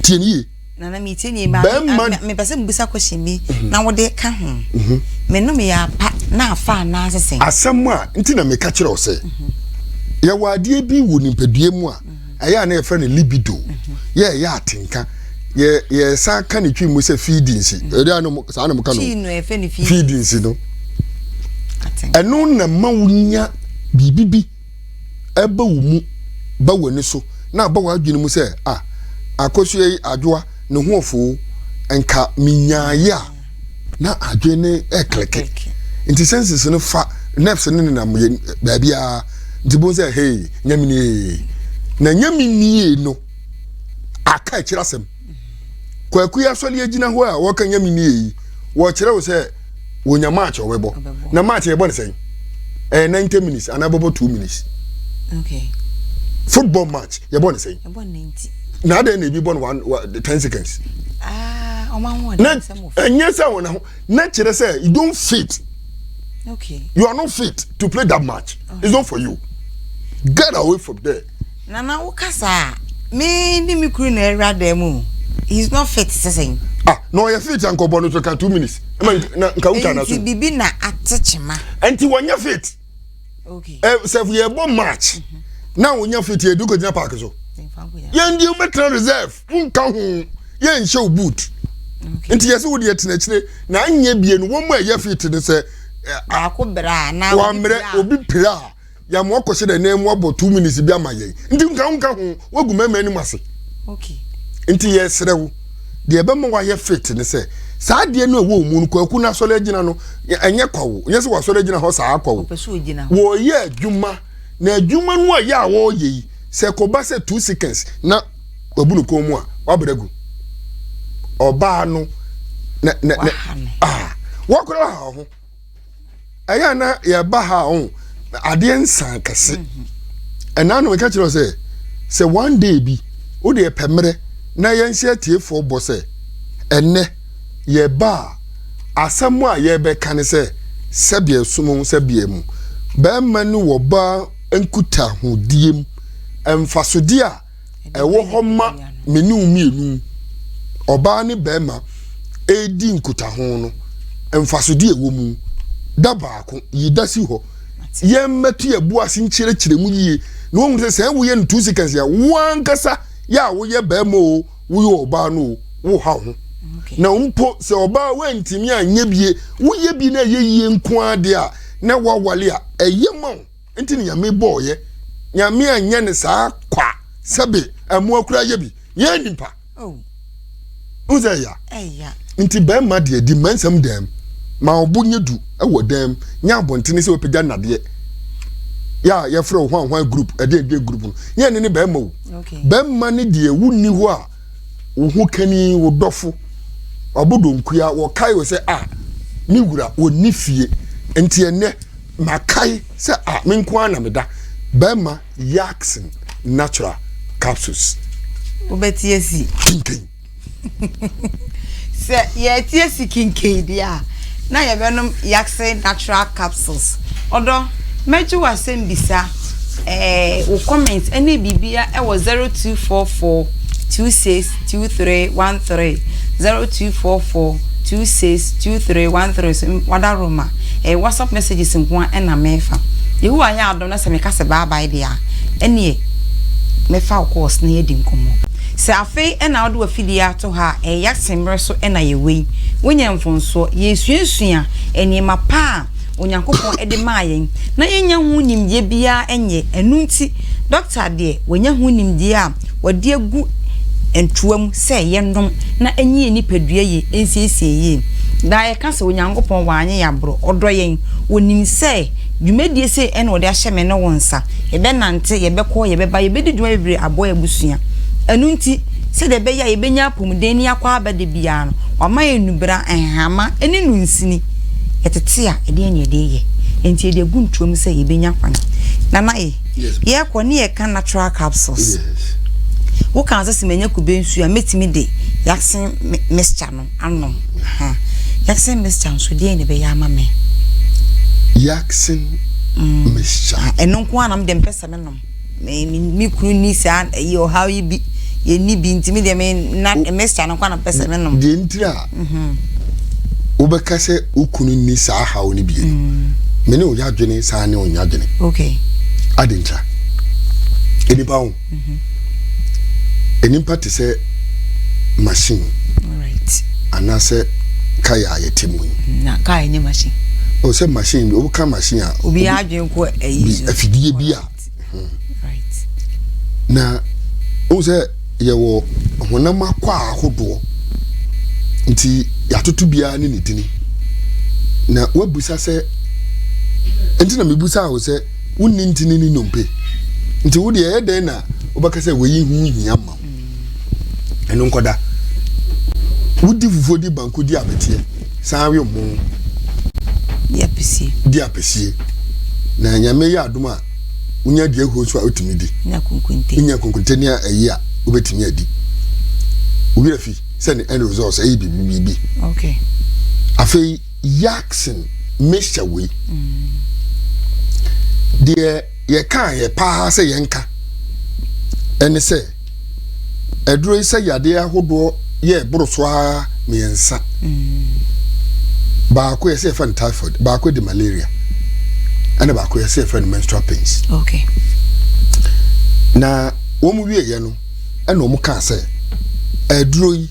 tie ne yie. nana mi tie ne yie bɛrima mepɛ sɛ mbusa question bi mhm. na wode ka ho mhm. menom yɛ apa na afa anaa sesɛn. asɛm a nti na meka kyerɛ wo sɛ mhm. yɛwɔ adeɛ bi wɔ nipadua mu a. ɛyɛ a na yɛfrɛ no libido yɛ ɛyɛ atenka yɛ yɛsan ka ne twi mu sɛ feedings mm. ɛdi a no saa na mo ka no feedings no ɛno na ma wo nya biribi bi ɛba wo mu ba w'ani so na aba w'adwene mu sɛ a akosua yi adwoa ne ho ɔfoo nka menyaayɛ a na adwene ne ɛkleke nti senses no fa nerves no nenam yɛ baabiara nti bohu sɛ hei nyaminie na nyaminie no aka akyiri asɛm kwaku yi asɔre agyina hɔ a wɔka nyaminie yi wɔkyerɛ wo sɛ wɔnya match ɔbɛbɔ na match yɛbɔ ne sɛn ɛyɛ 90 minutes anaa bɛbɔ 2 minutes okay. football match yɛbɔ ne sɛn na adɛn na ebi bɔ no one wa ten seconds. Ah, na ɛnyɛ sɛ wɔn ho na kyerɛ sɛ you don't fit. Okay. You are not fit to play that match. Okay. It's not for you. Get away from there. Nana wo kasa me ni mi kuru na ɛwura dɛm mu he is not fit sɛsɛn. ah na ɔyɛ fit ankɔbɔ no so ka two minutes. ɛmɛ nka nka wuta na so. nti bibi na ate kyema. nti wɔnyɛ fit. eh, sɛ yɛbɔ match mhm. na wonya fiti edu kogyina park so yɛn deɛ wobɛtena reserve wonka ho yɛnhyɛ wo boot nti yɛsɛ wode yɛtena akyire na anyɛ bie no wɔn mu a ɛyɛ fiti no sɛ eh, wamerɛ obi pira a yàmú ọkọsẹ dẹ nẹẹmu abọ two minutes bi ama yẹn nti nka nka ho wogu mẹmẹ ẹni mu ase nti yẹ ẹsrẹ wo. deɛ ɛbɛma wayɛ fit ne sɛ saa adeɛ no ɛwɔ mu no kwaku no asɔre agyina no ɛnyɛ kwa wo nyɛ sɛ wasɔre agyina hɔ saa kwa wo wɔyɛ adwuma na adwuma no a yɛ a wɔyɛ yi sɛ kɔba sɛ two seconds na wabu no kɔn mu a wabrɛ gu ɔbaa no na na na ah wakora ha ho. ɛyɛ a na yɛba ha o adeɛ nsan kɛse mhm. ɛna no meka kyerɛ sɛ sɛ one day bi wode ɛpɛ mmerɛ na yɛnhyɛ atiefoɔ bɔ sɛ ɛnɛ yɛba a asɛm a yɛbɛka ne sɛ sɛbeɛ som ho sɛbeɛ mu bɛrima ne wɔba nkutahodie mu mfasodeɛ a ɛwɔ hɔ ma me ne wo mmienu, ɔbaa ne barima, redi nkutaho no, mfasodeɛ ɛwɔ mu. Da baako, yi da si hɔ. Yɛmmɛto yɛn bo ase nkyerɛkyerɛ mu yie na wɔn sɛ sɛ woyɛ no two seconds a, wo ankasa yɛ a woyɛ barima o, woyɛ ɔbaa no o, woha wo ho. Na mpo sɛ ɔbaa woantumi anyɛ bie, woyɛ bi na ɛyɛ yie nko ara deɛ a, na woawale a, ɛyɛ ma wo. Nti ne nyame bɔɔ yɛ nyame anyɛ ne saa kwa sɛbe ɛmoa kura yɛ bi yɛ nipa oh. n sɛ ya nti bɛrima deɛ di mmansɛm dɛm ma ɔbo nyɛ du ɛwɔ dɛm nyɛ abɔntene sɛ wɔpɛgya nnadeɛ yɛ a yɛfrɛ wo hwanhwan group ɛdeɛ ɛdeɛ group no yɛ ne ne bɛrima o bɛrima ne deɛ wonni hɔ a wo ho kani wo dɔfo ɔbo donkua wɔkae wo sɛ a ah, ne wura wɔnni fie nti ɛnɛ Makae sɛ a me nko ara na meda bɛma Yaxin natural capsules. Wobɛtie si. Kinkin. Sɛ yɛtie si kinkin deɛ a, na yɛbɛnom Yaxin natural capsules. Ɔdɔ, mɛgye w'asɛm bisa. Ɛɛ wo comment ne biribia ɛwɔ zero two four four two six two three one three zero two four four two six two three one three so wada roma ɛɛ whatsapp messages nko a ɛna mɛfa yehowa yɛ adom na sɛ meka sɛ bye bye deɛ a ɛneɛ mɛfa wo course na yɛadi nkɔmmɔ sɛ afei ɛna wode wafidie ato ha a ɛyɛ asɛmmerɛ so ɛna yɛwei wonya mfonsoɔ yɛsuasua nneɛma pa a Onyankopɔn de maa yɛn na yɛnnya ho nimdeɛ biara nyɛ. Ɛno nti, dɔkta deɛ, wanya ho nimdeɛ a wɔde agu ntoa mu sɛ yɛnnom na ɛnyɛ yɛn nipadua yie nsiesie yie. Daa yɛka sɛ Onyankopɔn wanyɛ yɛn aborɔ, ɔdɔ yɛn. Ɔnim sɛ dwumadie sei na ɔde ahyɛ me ne wo nsa. Yɛbɛnante, yɛbɛkɔ, yɛbɛba, yɛbɛdi dwuma bebree aboa yɛn abusua. Ɛno nti, sɛdeɛ ɛbɛyɛ a yɛbɛnya apɔmuden ne yɛakɔ aba da biara no, wama yɛn nnubra, nhama ne nnunsini. yɛtete a, ɛdeɛn na yɛde reyɛ? Enti yɛde agu ntoɔ mu sɛ yɛbɛnya kwan. Nana ye, yɛrekɔ ne yɛka natural capsules. Wo kaa sɛ sɛ manya kube nsuo a, mɛtumi de yaksen mixture no anom. Yaksen mixture nso, deɛn na ɛbɛyɛ ama me? Yaksen mm. mixture. Ah, ɛno nko ara na mede mpɛ sɛ menom. Me ne me kunu nni saa ɛyi ɔhaw yi bi. Yɛnni bi nti me deɛ me na mixture no kwa na pɛ sɛ me nom. Deɛ nti a wobɛka sɛ wo kunu nni saa haw no bie no, mm. me ne wo yadwene saa ne ɔnya dwene. Okay. Adi ntra. Enipa ho. Mm-hmm. Enipa te sɛ machine. Alright. Anaasɛ kaa a yɛte mu yi. Na kaa nyɛ machine. O sɛ machine bi, woka machine a. Obi adwene afidie bi a na wohu sɛ yɛwɔ honam akɔ a ahodoɔ nti yɛatoto biara ne ne dini na woabusa sɛ nti na mebusa wo sɛ wonni ntini ne nnompe nti wodeɛ ɛyɛ dɛn na wobɛka sɛ wɔyi ho hia ma wo ɛno nkɔda wodi fufuo di banku di abɛteɛ san awe mo di apɛsie di apɛsie na nyame yɛ adom a wonya di ahuo nso a wotumi di nya konkonte nya konkonte ne ayi a wobɛtumi adi wowira fi sɛ ne end results ɛyɛ biribi okay afei yaksen mixture wei mm. deɛ Yɛkaeɛ paa sɛ yɛnka. Ɛne sɛ, aduro yi sɛ yadeɛ ahodoɔ yɛ boro so ara mmiɛnsa. Baako yɛsɛ yɛfrɛ no typhoid, baako de malaria, ɛna baako yɛsɛ yɛfrɛ no menstrual pains. Okay. Na wɔn wieɛ no, ɛna wɔn kaa sɛ aduro yi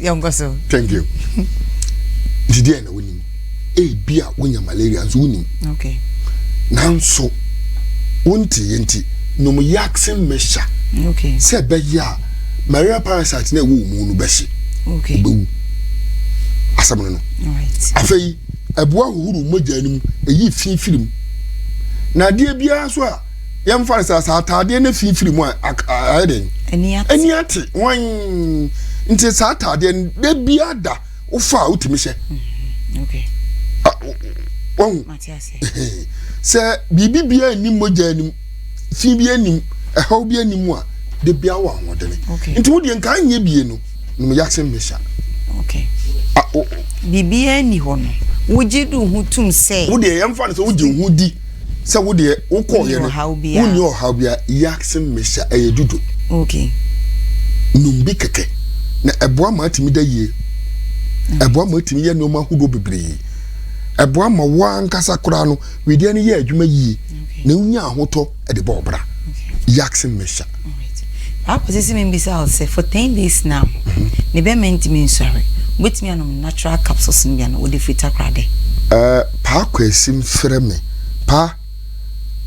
yɛnkɔ so thank you nti deɛ na wonim ebi a wonya malaria nso wonim okay nanso wonti yɛ nti nom yaksen mɛhyɛ okay sɛ ɛbɛyɛ a malaria parasite na ɛwɔ mu no bɛhye okay bɛwu asɛm no no afei ɛboa hohoro mogya no mu ɛyi fi firi mu na adeɛ biara nso a yɛmfa no sɛ sɛ ataadeɛ no firifiri mu a ayɛ dɛn ani ate wan nti saa ataadeɛ no da bia da wofa a wotumi hyɛ wahu sɛ biribi bia anim mogya anim fi bi anim ɛhaw bi anim a da bia wɔ ahoɔdene nti wodeɛ nka nyɛ bie no nom yakse mmesha. Okay. A, o, o. Biribiara nni hɔ no, wogye di wo ho tum sɛ. Wo deɛ yɛmfa no sɛ wogye wo ho di sɛ wo deɛ wokɔɔ yɛ no. Wonni ɔhaw biara. Yakse mmesha ɛyɛ dudo. Okay. Nom bi kɛkɛ. Na ɛboa ma atumi da yie. Mm. Ɛboa ma atumi yɛ nneɛma ahodoɔ bebree. Ɛboa ma wo ankasa koraa no, wedeɛ no yɛ adwuma yie. Okay. Na wonya ahotɔ. ɛde bɔ ɔbra yaksi mmɛhyɛ. Papa sisi mi bisa wo sɛ for ten days now mhm. ne bɛma ntumi nsɔre wobɛtumi anom natural capsules no bia no wode firi takora dɛ eh, paa kwasim frɛ me pa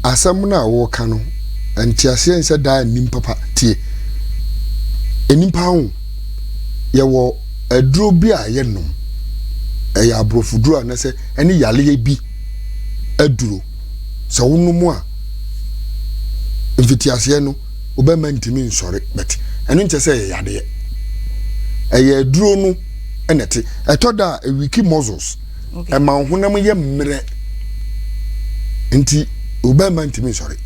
asɛm no a woka no nteaseɛ nsɛ daa nnim papa tie nnipa ho yɛwɔ aduro bi a yɛnom ɛyɛ aborɔfoduro a na sɛ ɛne yaleɛ bi aduro sɛ wonom a mfitiaseɛ no wo bɛma ntumi nsɔre but ɛno nkyɛ sɛ ɛyɛ yadeɛ ɛyɛ aduro no ɛna ɛte ɛtɔ da a ɛwiki muscles okay. ɛma wo honam yɛ mmerɛ nti wo bɛma ntumi nsɔre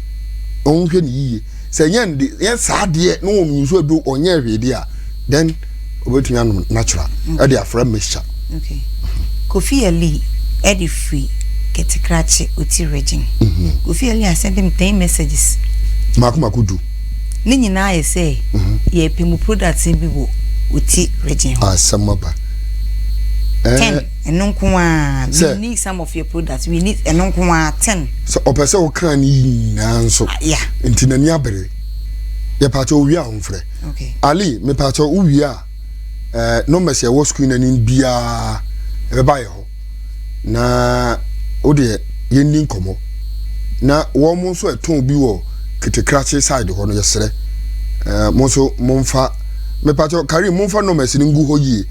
ɔnhwɛ ne yiye sɛ nyɛ nde nyɛ saa adeɛ na wɔn nsuo adu ɔnyɛ hwee deɛ a then obetumi anom natural ɛde afra mixture. okay kofi ali ɛde firi kɛtekrakye oti regin mhm. kofi ali asɛn dem ten messages mako mako du ne nyinaa yɛ sɛ mhm. yɛpɛ mu products bi wɔ oti regin hɔ asɛm aba ten ɛno nko ara we need some of your products we need ɛno nko ara ten. sɛ ɔpɛ sɛ ɔka ne yi nyinaa nso ah, nti n'ani abere yɛpaakyɛ owie a ɔmfrɛ ali mepaakyɛ owie a ɛɛ eh, numbers ɛwɔ sukuu n'anim biara ɛbɛba yɛ hɔ na o deɛ yɛn ni nkɔmɔ na wɔn mo nso ɛtɔn bi wɔ ketekrakye side hɔ no yɛsrɛ ɛɛ eh, mo nso mo nfa mepaakyɛ kari mo nfa numbers no ngu hɔ yie.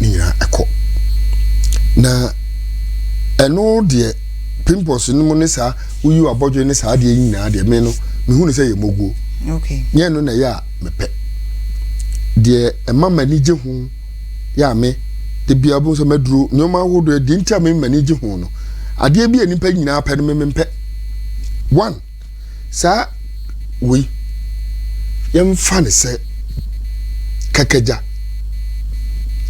ne nyinaa kɔ na ɛno deɛ pimples no mu ne saa woyi wabɔdwe ne saa deɛ nyinaa deɛ me no mehu no sɛ yɛ moguo okay. nyɛ no na ɛyɛ a mepɛ deɛ ɛma m'ani gye ho yɛ a me de bia bo sɛ maduro nneɛma ahodoɔ deɛ nti a me m'ani gye ho no adeɛ bi a nipa nyinaa pɛ no me mempɛ one saa wei yɛmfa no sɛ kakagya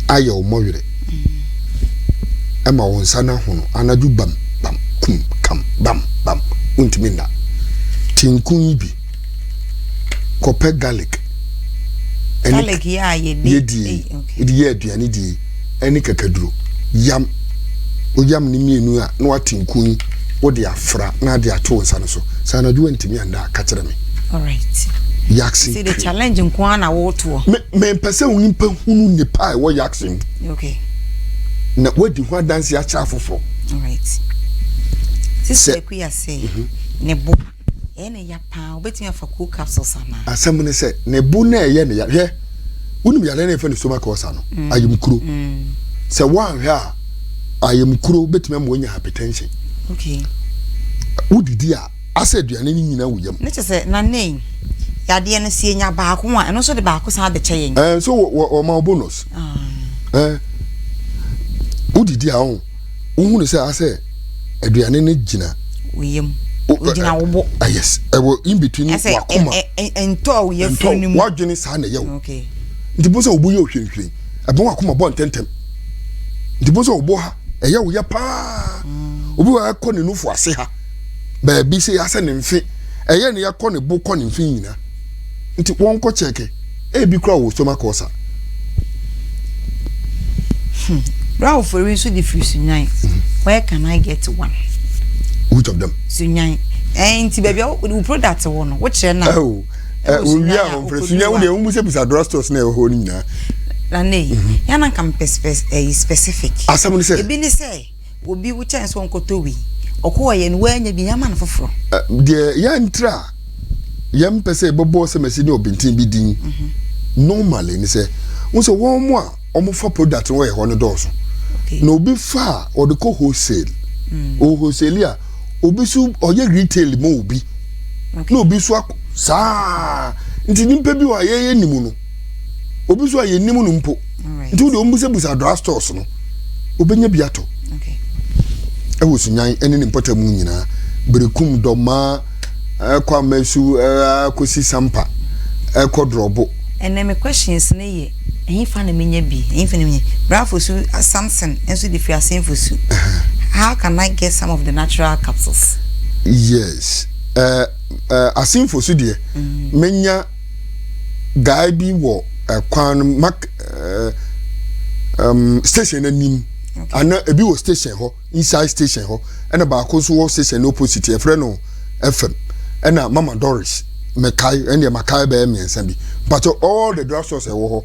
ayɛ wo mmɔwerɛ mm. ɛma wo nsa no ahono anadwo bam bam kum kam bam bam wontumi nna tinko yi bi kɔpɛ garlic garlic yɛ a yɛdi yɛdi yɛ aduane die ne kakaduro. Yam oyam no mmienu a na wate nku yi wode afra na ade ato wo nsa no so. Sɛ anadwo wantumi anda a, ka kyerɛ me. Alright. Yaksen See the cream. challenge nko ara na wotoɔ. Me mempɛ sɛ onipa hunu nnepa a ɛwɔ yaksen mu. Okay. Na wadi ho adanse akyerɛ afoforɔ. Alright. Sɛ- Sisi Akuyase ne bo. Ɛyɛ ne ya paa, wobɛtumi afa cool capsules anaa? Asɛm ne sɛ, ne bo na ɛyɛ ne ya. Hwɛ, wonim yareɛ no ɛfɛ ne stomach ulcer no, mm. ayamkuro. Mm. Sɛ woanhwɛ a, ayamkuro bɛtumi ama woanya hypertension. Okay. Wodidi a, asɛ aduane no nyina wo yam. Ne kyɛ sɛ, na ne yadeɛ no sie nya baako a, ɛno nso de baako san abɛkyɛ yɛn. Ɛɛ, eh, nso wɔma bonus. Ah. Ɛɛ, eh, wodidi a, ɔn. wohu no sɛ asɛ aduane no gyina wo yam ogyina wo bo ah, yes ɛwɔ in between wakoma ɛntɔ a woyɛ firi no mu wadwene saa na ɛyɛ wo nti bo sɛ wobo yɛ ohwirenhwiren ɛbɛn wakoma bɔ ntɛntɛm nti bo sɛ wobo ha ɛyɛ wo yɛ paa mm. obi wa ɛkɔ ne nufo ase ha baabi sɛ yɛasɛ ne mfe ɛyɛ ne yɛkɔ ne bo kɔ ne mfe nyina nti wɔnkɔ kyɛke ebi kora wɔ stomach ulcer. Hmm. Bra ofori nso de firi sunyan. Mm-hmm. Where can I get one? Which of them? Sunyan. Eh, nti baabi a wo product wɔ no, wokyerɛ na. Oh. Eh, owie a wɔmfrɛ sunyan wo deɛ womu sɛ bisa drugstores na ɛwɔ hɔ no nyinaa. Na ne, mm-hmm. yana kam eh, specific. Asɛm ne sɛ. Ebi ne sɛ. Obi wo kyɛn sɛ ɔnkɔtɔ wei. Ɔkɔ ɔyɛ no woannya bi yɛama no foforɔ. Deɛ yɛntra a yɛmpɛ sɛ yɛbɛbɔ sɛmɛsi ne ɔbenten bi din normally ne sɛ wo sɛ wɔn a wɔfa product no wɔyɛ hɔ no dɔɔso na obi fa a ɔde kɔ wholesale ɔwɔ wholesale a obi so ɔyɛ retail ma obi na obi so saa nti nipa bi wɔ a yɛyɛ nim no obi so a yɛnim no mpo nti wode ɔmbusabusa dra stores no wobɛnya bi atɔ ɛwɔ sunyan ɛne ne mpɔta mu nyinaa berekum dɔmaa ɛkɔ amasu ɛkɔsi sampa ɛkɔ drɔbo ɛnɛ me questions no yɛ ɛhefa na menya bi ɛhefa na menya brafo su uh, samson nso de firi asenfo su how can i get some of the natural capsules yes uh, uh, asenfo su deɛ mm. menya guy bi wɔ ɛkwan no mak ɛɛ ɛm station n'anim ana ebi wɔ station hɔ inside station hɔ ɛna baako nso wɔ station no opposite yɛfrɛ no fm ɛna mama doris mɛkae ɛna mɛkae bɛyɛ mmiɛnsa bi but all the drug stores ɛwɔ hɔ.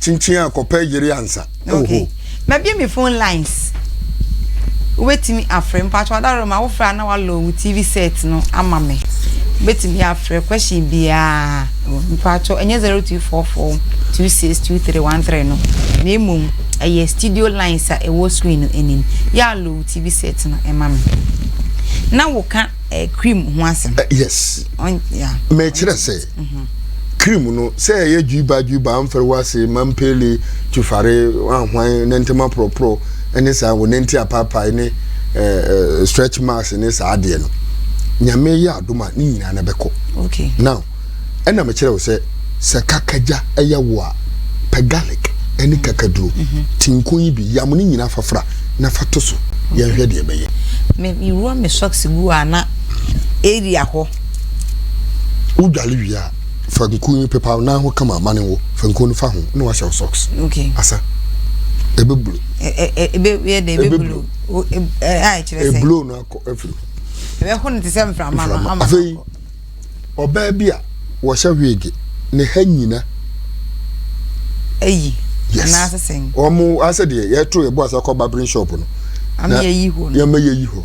kyinkyin a kɔpɛ yere ansa. Oho. Mabie me phone lines. Wobɛtumi afrɛ mpakyɛ adaroma wofrɛ a na walɔ wo TV set no ama me. Wobɛtumi afrɛ question biara mpakyɛ ɛnyɛ 0244 262313 no na mmom ɛyɛ studio lines a ɛwɔ screen no anim. Yɛ alɔ wo TV set no ɛma me. Na woka eh, cream ho asɛm. Eh, yes. On, yeah. Mɛkyerɛ sɛ. Krim no, sɛ ɛyɛ dwiba dwiba, amfɛre wɔ ase, mampele, twifare, ahwan, nantam aporɔporɔ, ne saa, wɔ nanti apaapae, ne eh, eh, stretch marks, ne saa adeɛ no. Nyame yɛ adom a, ne nyinaa na bɛkɔ. Okay. Now, ɛna mekyerɛ wo sɛ, sɛ kakagya ɛyɛ wo a, pɛ garlic, ɛne mm. kakaduro, mm -hmm. tinko yi bi, yam ne nyinaa fafra, na fa to so, okay. yɛnhwɛ deɛ ɛbɛyɛ. Me, me wura me socks gu a na area hɔ. Wodwale wie a, fa nku no pepa wo nan ho kama ma ne nwo. Fa nku no fa ho na wahyɛ wo socks. Okay. Asa. Ebe blue. Ebe ebe yɛ de ebe blue. A ɛkyerɛ sɛ. Eblow no akɔ afiri ho. Ebe ho no te sɛ mframa no ama. Afei ɔbaa bi a wɔhyɛ wig ne ha nyina. Ayi. Yes. Na asese. Wɔn asɛ deɛ yɛto yɛbɔ asa kɔ barbering shop no. Ama yɛyi hɔ no. Yɛma yɛyi hɔ.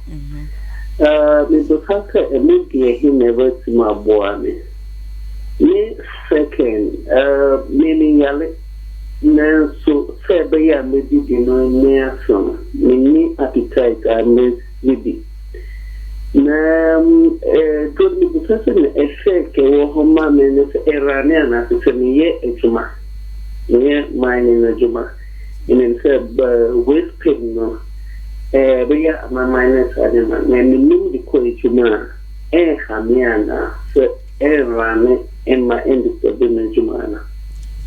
Mebisa sɛ, ɛno deɛ he na ɛbɛtumi aboa me? Ne second, me meyare nanso sɛ ɛbɛyɛ a mɛdidi no nyɛ asɛm, menni appetite a mɛdidi. Na duro no mebisa sɛ na effect a ɛwɔ hɔ ma me no sɛ ɛrane anaasɛ sɛ meyɛ adwuma, meyɛ mining adwuma. menim sɛ waste pin no ɛbɛyɛ amanman ne saa nneɛma no na menim de kɔ adwuma a ɛnha me anaa sɛ ɛnrane mma ɛndisturbe m'adwuma anaa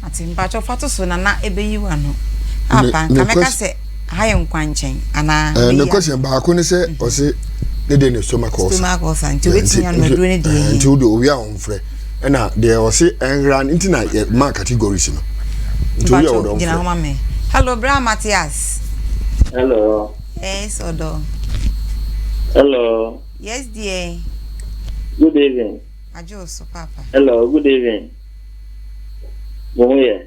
Ate mpakyɛ fa to so nana ɛbɛyi wo ano apa nka mɛka sɛ ha yɛ nkwankyɛn anaa eh, ne question baako ne sɛ mhm. ɔse ne deɛ ne stomach ulcer stomach ulcer nti wobɛtumi anaduro ne deɛ eh, nti wode owia a ɔmfrɛ ɛna deɛ ɔse ɛnhra no nti na yɛ ma categories no nti woyɛ ɔdɔ gyina homa me hello bra Matthias hello yes ɔdɔ hello yes dear good evening adwo so papa hello good evening mo ho yɛ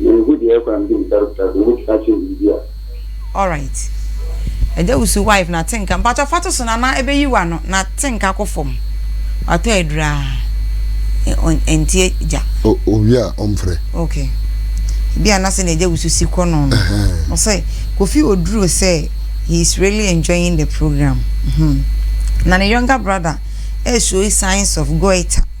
Menhu deɛ ɛkwan bi ntare kura sɛ wobɛtumi akyerɛ biribi a. Alright Adawusu wife na te nka mpakyɛ fa to so na na ɛbɛyi wo ano na te nka kɔ fam watɔ aduraa ɛntie gya. Oh owie a ɔmfrɛ. Ok ebi a na sɛ nea Adawusu si kɔ no no ɔsɛ Kofi Oduro sɛ he is really enjoying the program hmm na ne younger brother ɛɛshow signs of goiter.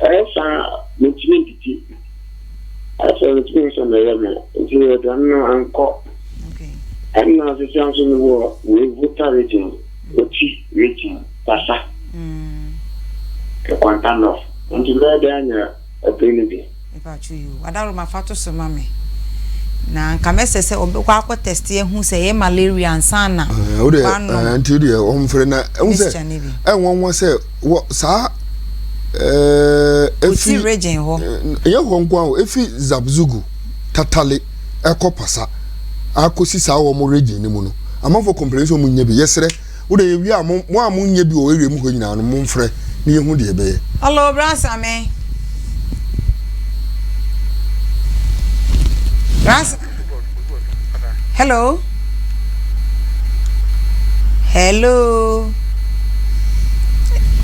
Ɛyɛ saa a, mentumi ndidi. Afei mentumi nsɔ meyɛ me. Nti aduane no ankɔ. Ɛna sesia nso mewɔ wei Volta region, Oti region, Bassa, Kwanta North. Nti mɛyɛ dɛn anya ɔbere no bi? Mepakyɛw yi o, Adaworoma fa to so ma me. Na nka mɛsɛ sɛ ɔbɛkɔ akɔ tɛste ahu sɛ ɛyɛ malaria ansa na wano. Ɛɛ nti deɛ wɔn fere na ɛho sɛ ɛnwɔn wɔn sɛ wɔ saa ɛɛ efi region hɔ. Ɛyɛ hɔ nko a efi Zabzugu tatale ɛkɔ pasa akɔsi saa wɔn region ne mu no. Amanfo kɔmpere nso wɔn nyɛ bi yɛsrɛ. Wo de yɛwie a mo mo a mo nyɛ bi wɔ area mu hɔ nyinaa no mo mfrɛ na yɛ hu deɛ yɛ bɛyɛ. Hello bra same. Bra Hello. Hello.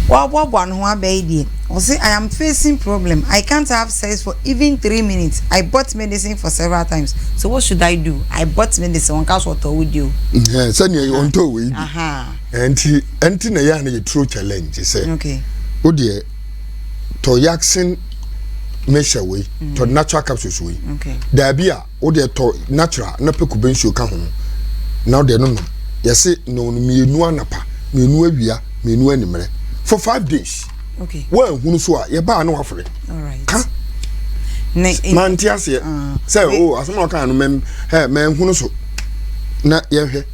Waboaboa ne ho abɛyɛ deɛ. Ɔse I am facing problem I can't have. says for even three minutes I bought medicine for several times so what should I do I bought medicine wɔn ka so ɔtɔ wo di o. sɛnea yɛ ɔntɔ wei bi ɛnti ɛnti na yɛ a na yɛ turo challenge sɛ o deɛ tɔ yaksin mixture wei tɔ natural capsules wei daabi a. Wo deɛ tɔ natural na pɛ kube nsuo ka ho na wo deɛ no nom. Yɛse nom no mmienu anapa, mmienu awia, mmienu animmerɛ for five days. Okay. Woanhunu so a yɛbaa na wafrɛ. Alright. Ka. Ne. Mante aseɛ. Ah. Sɛ o oh, asɛm a ɔkaa no mɛn hɛ mɛnhunu so na yɛnhwɛ.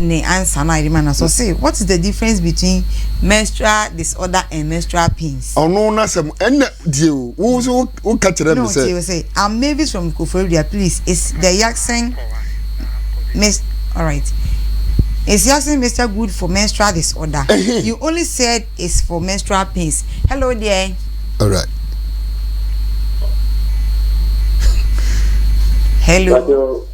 ne ansa no a yɛde ma no so ɔse what is the difference between menstrual disorder and menstrual pains. ɔno n'asɛm ɛnna die o wo nso wo wo ka kyerɛ mi sɛ. no tie say i'm mavis from koforidua please is the yaxin miss alright is yaxin mister good for menstrual disorder you only said it's for menstrual pains hello dear. alright. hello.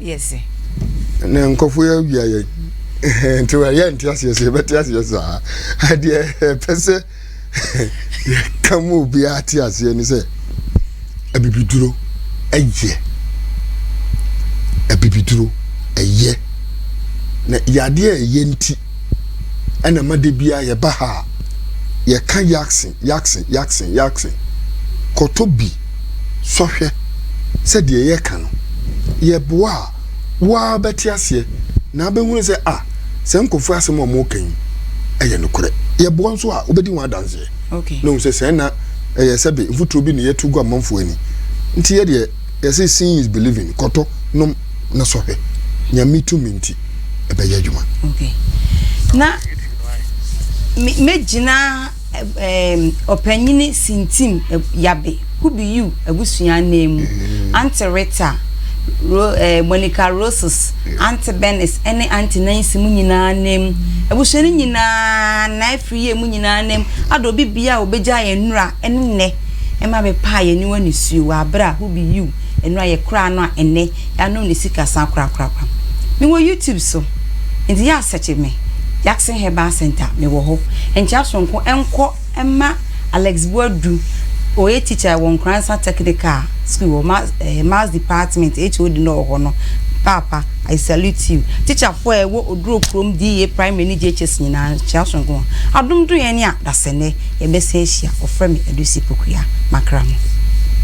yɛ dze. Na nkorɔfo yi awia yɛn. Nti yɛnte aseɛ sɛ yɛbɛte aseɛ saa. Deɛ ɛpɛ sɛ yɛka ma obiara te aseɛ ne sɛ abibiduro ɛyɛ. Abibiduro ɛyɛ. Na yadeɛ a ɛyɛ nti ɛna ma da biara yɛba ha a yɛka yaksen yaksen yaksen yaksen kɔtɔ bi. sɔhwɛ sɛ deɛ yɛka no yɛ boa a, wo ara bɛte aseɛ na abɛhunu sɛ ah, saa nkurɔfoɔ yi asɛm a wɔreka yi yɛ nokorɛ. Yɛ boa nso a, wobɛdi ho adanseɛ okay. na wohu sɛ sɛɛ na ɛyɛ sɛbe mfuturo bi na yɛto gu amanfoɔ ani. Nti yɛ deɛ yɛse seeing is believing, kɔtɔ, nom na sɔhwɛ. Nyame tumi nti ɛbɛyɛ adwuma. Okay. Na mɛgyina Ɔpanyin Sintim Yabe, Kubi Yu abusua ananmu, Aunty Rita, Ro, eh, Monica Roses, Aunty Benis, ne Aunty Nancy mu nyinaa ananmu. Abusua no nyinaa na afiri yɛ mu nyinaa ananmu. Ada obi bia a obegya yɛn nnura ne nnɛ ɛma bɛpaa yɛn aniwa nisuo wɔ abere a Kubi Yu nnura yɛkoraa no a ɛnnɛ Yɛanom ne sikasa korakorakora. Mewɔ YouTube so, enti yɛ a sɛkye me, Jackson Herbal Centre, mewɔ hɔ. Nkyea soronko nkɔ mma Alex Boadu, ɔyɛ teacher wɔ Nkoransa Technical School wɔ ma eh, Maths Department, HOD no wɔ hɔ no. Paapa, I salute you. Teacherfoɔ a ɛwɔ Oduro kurom DA Primary ne JHS nyinaa, nkyea soronko wɔn. Adom dom yɛn a, dasɛ nnɛ yɛbɛsan ahyia, wɔfrɛ me Adusi Pokuya, Makramo.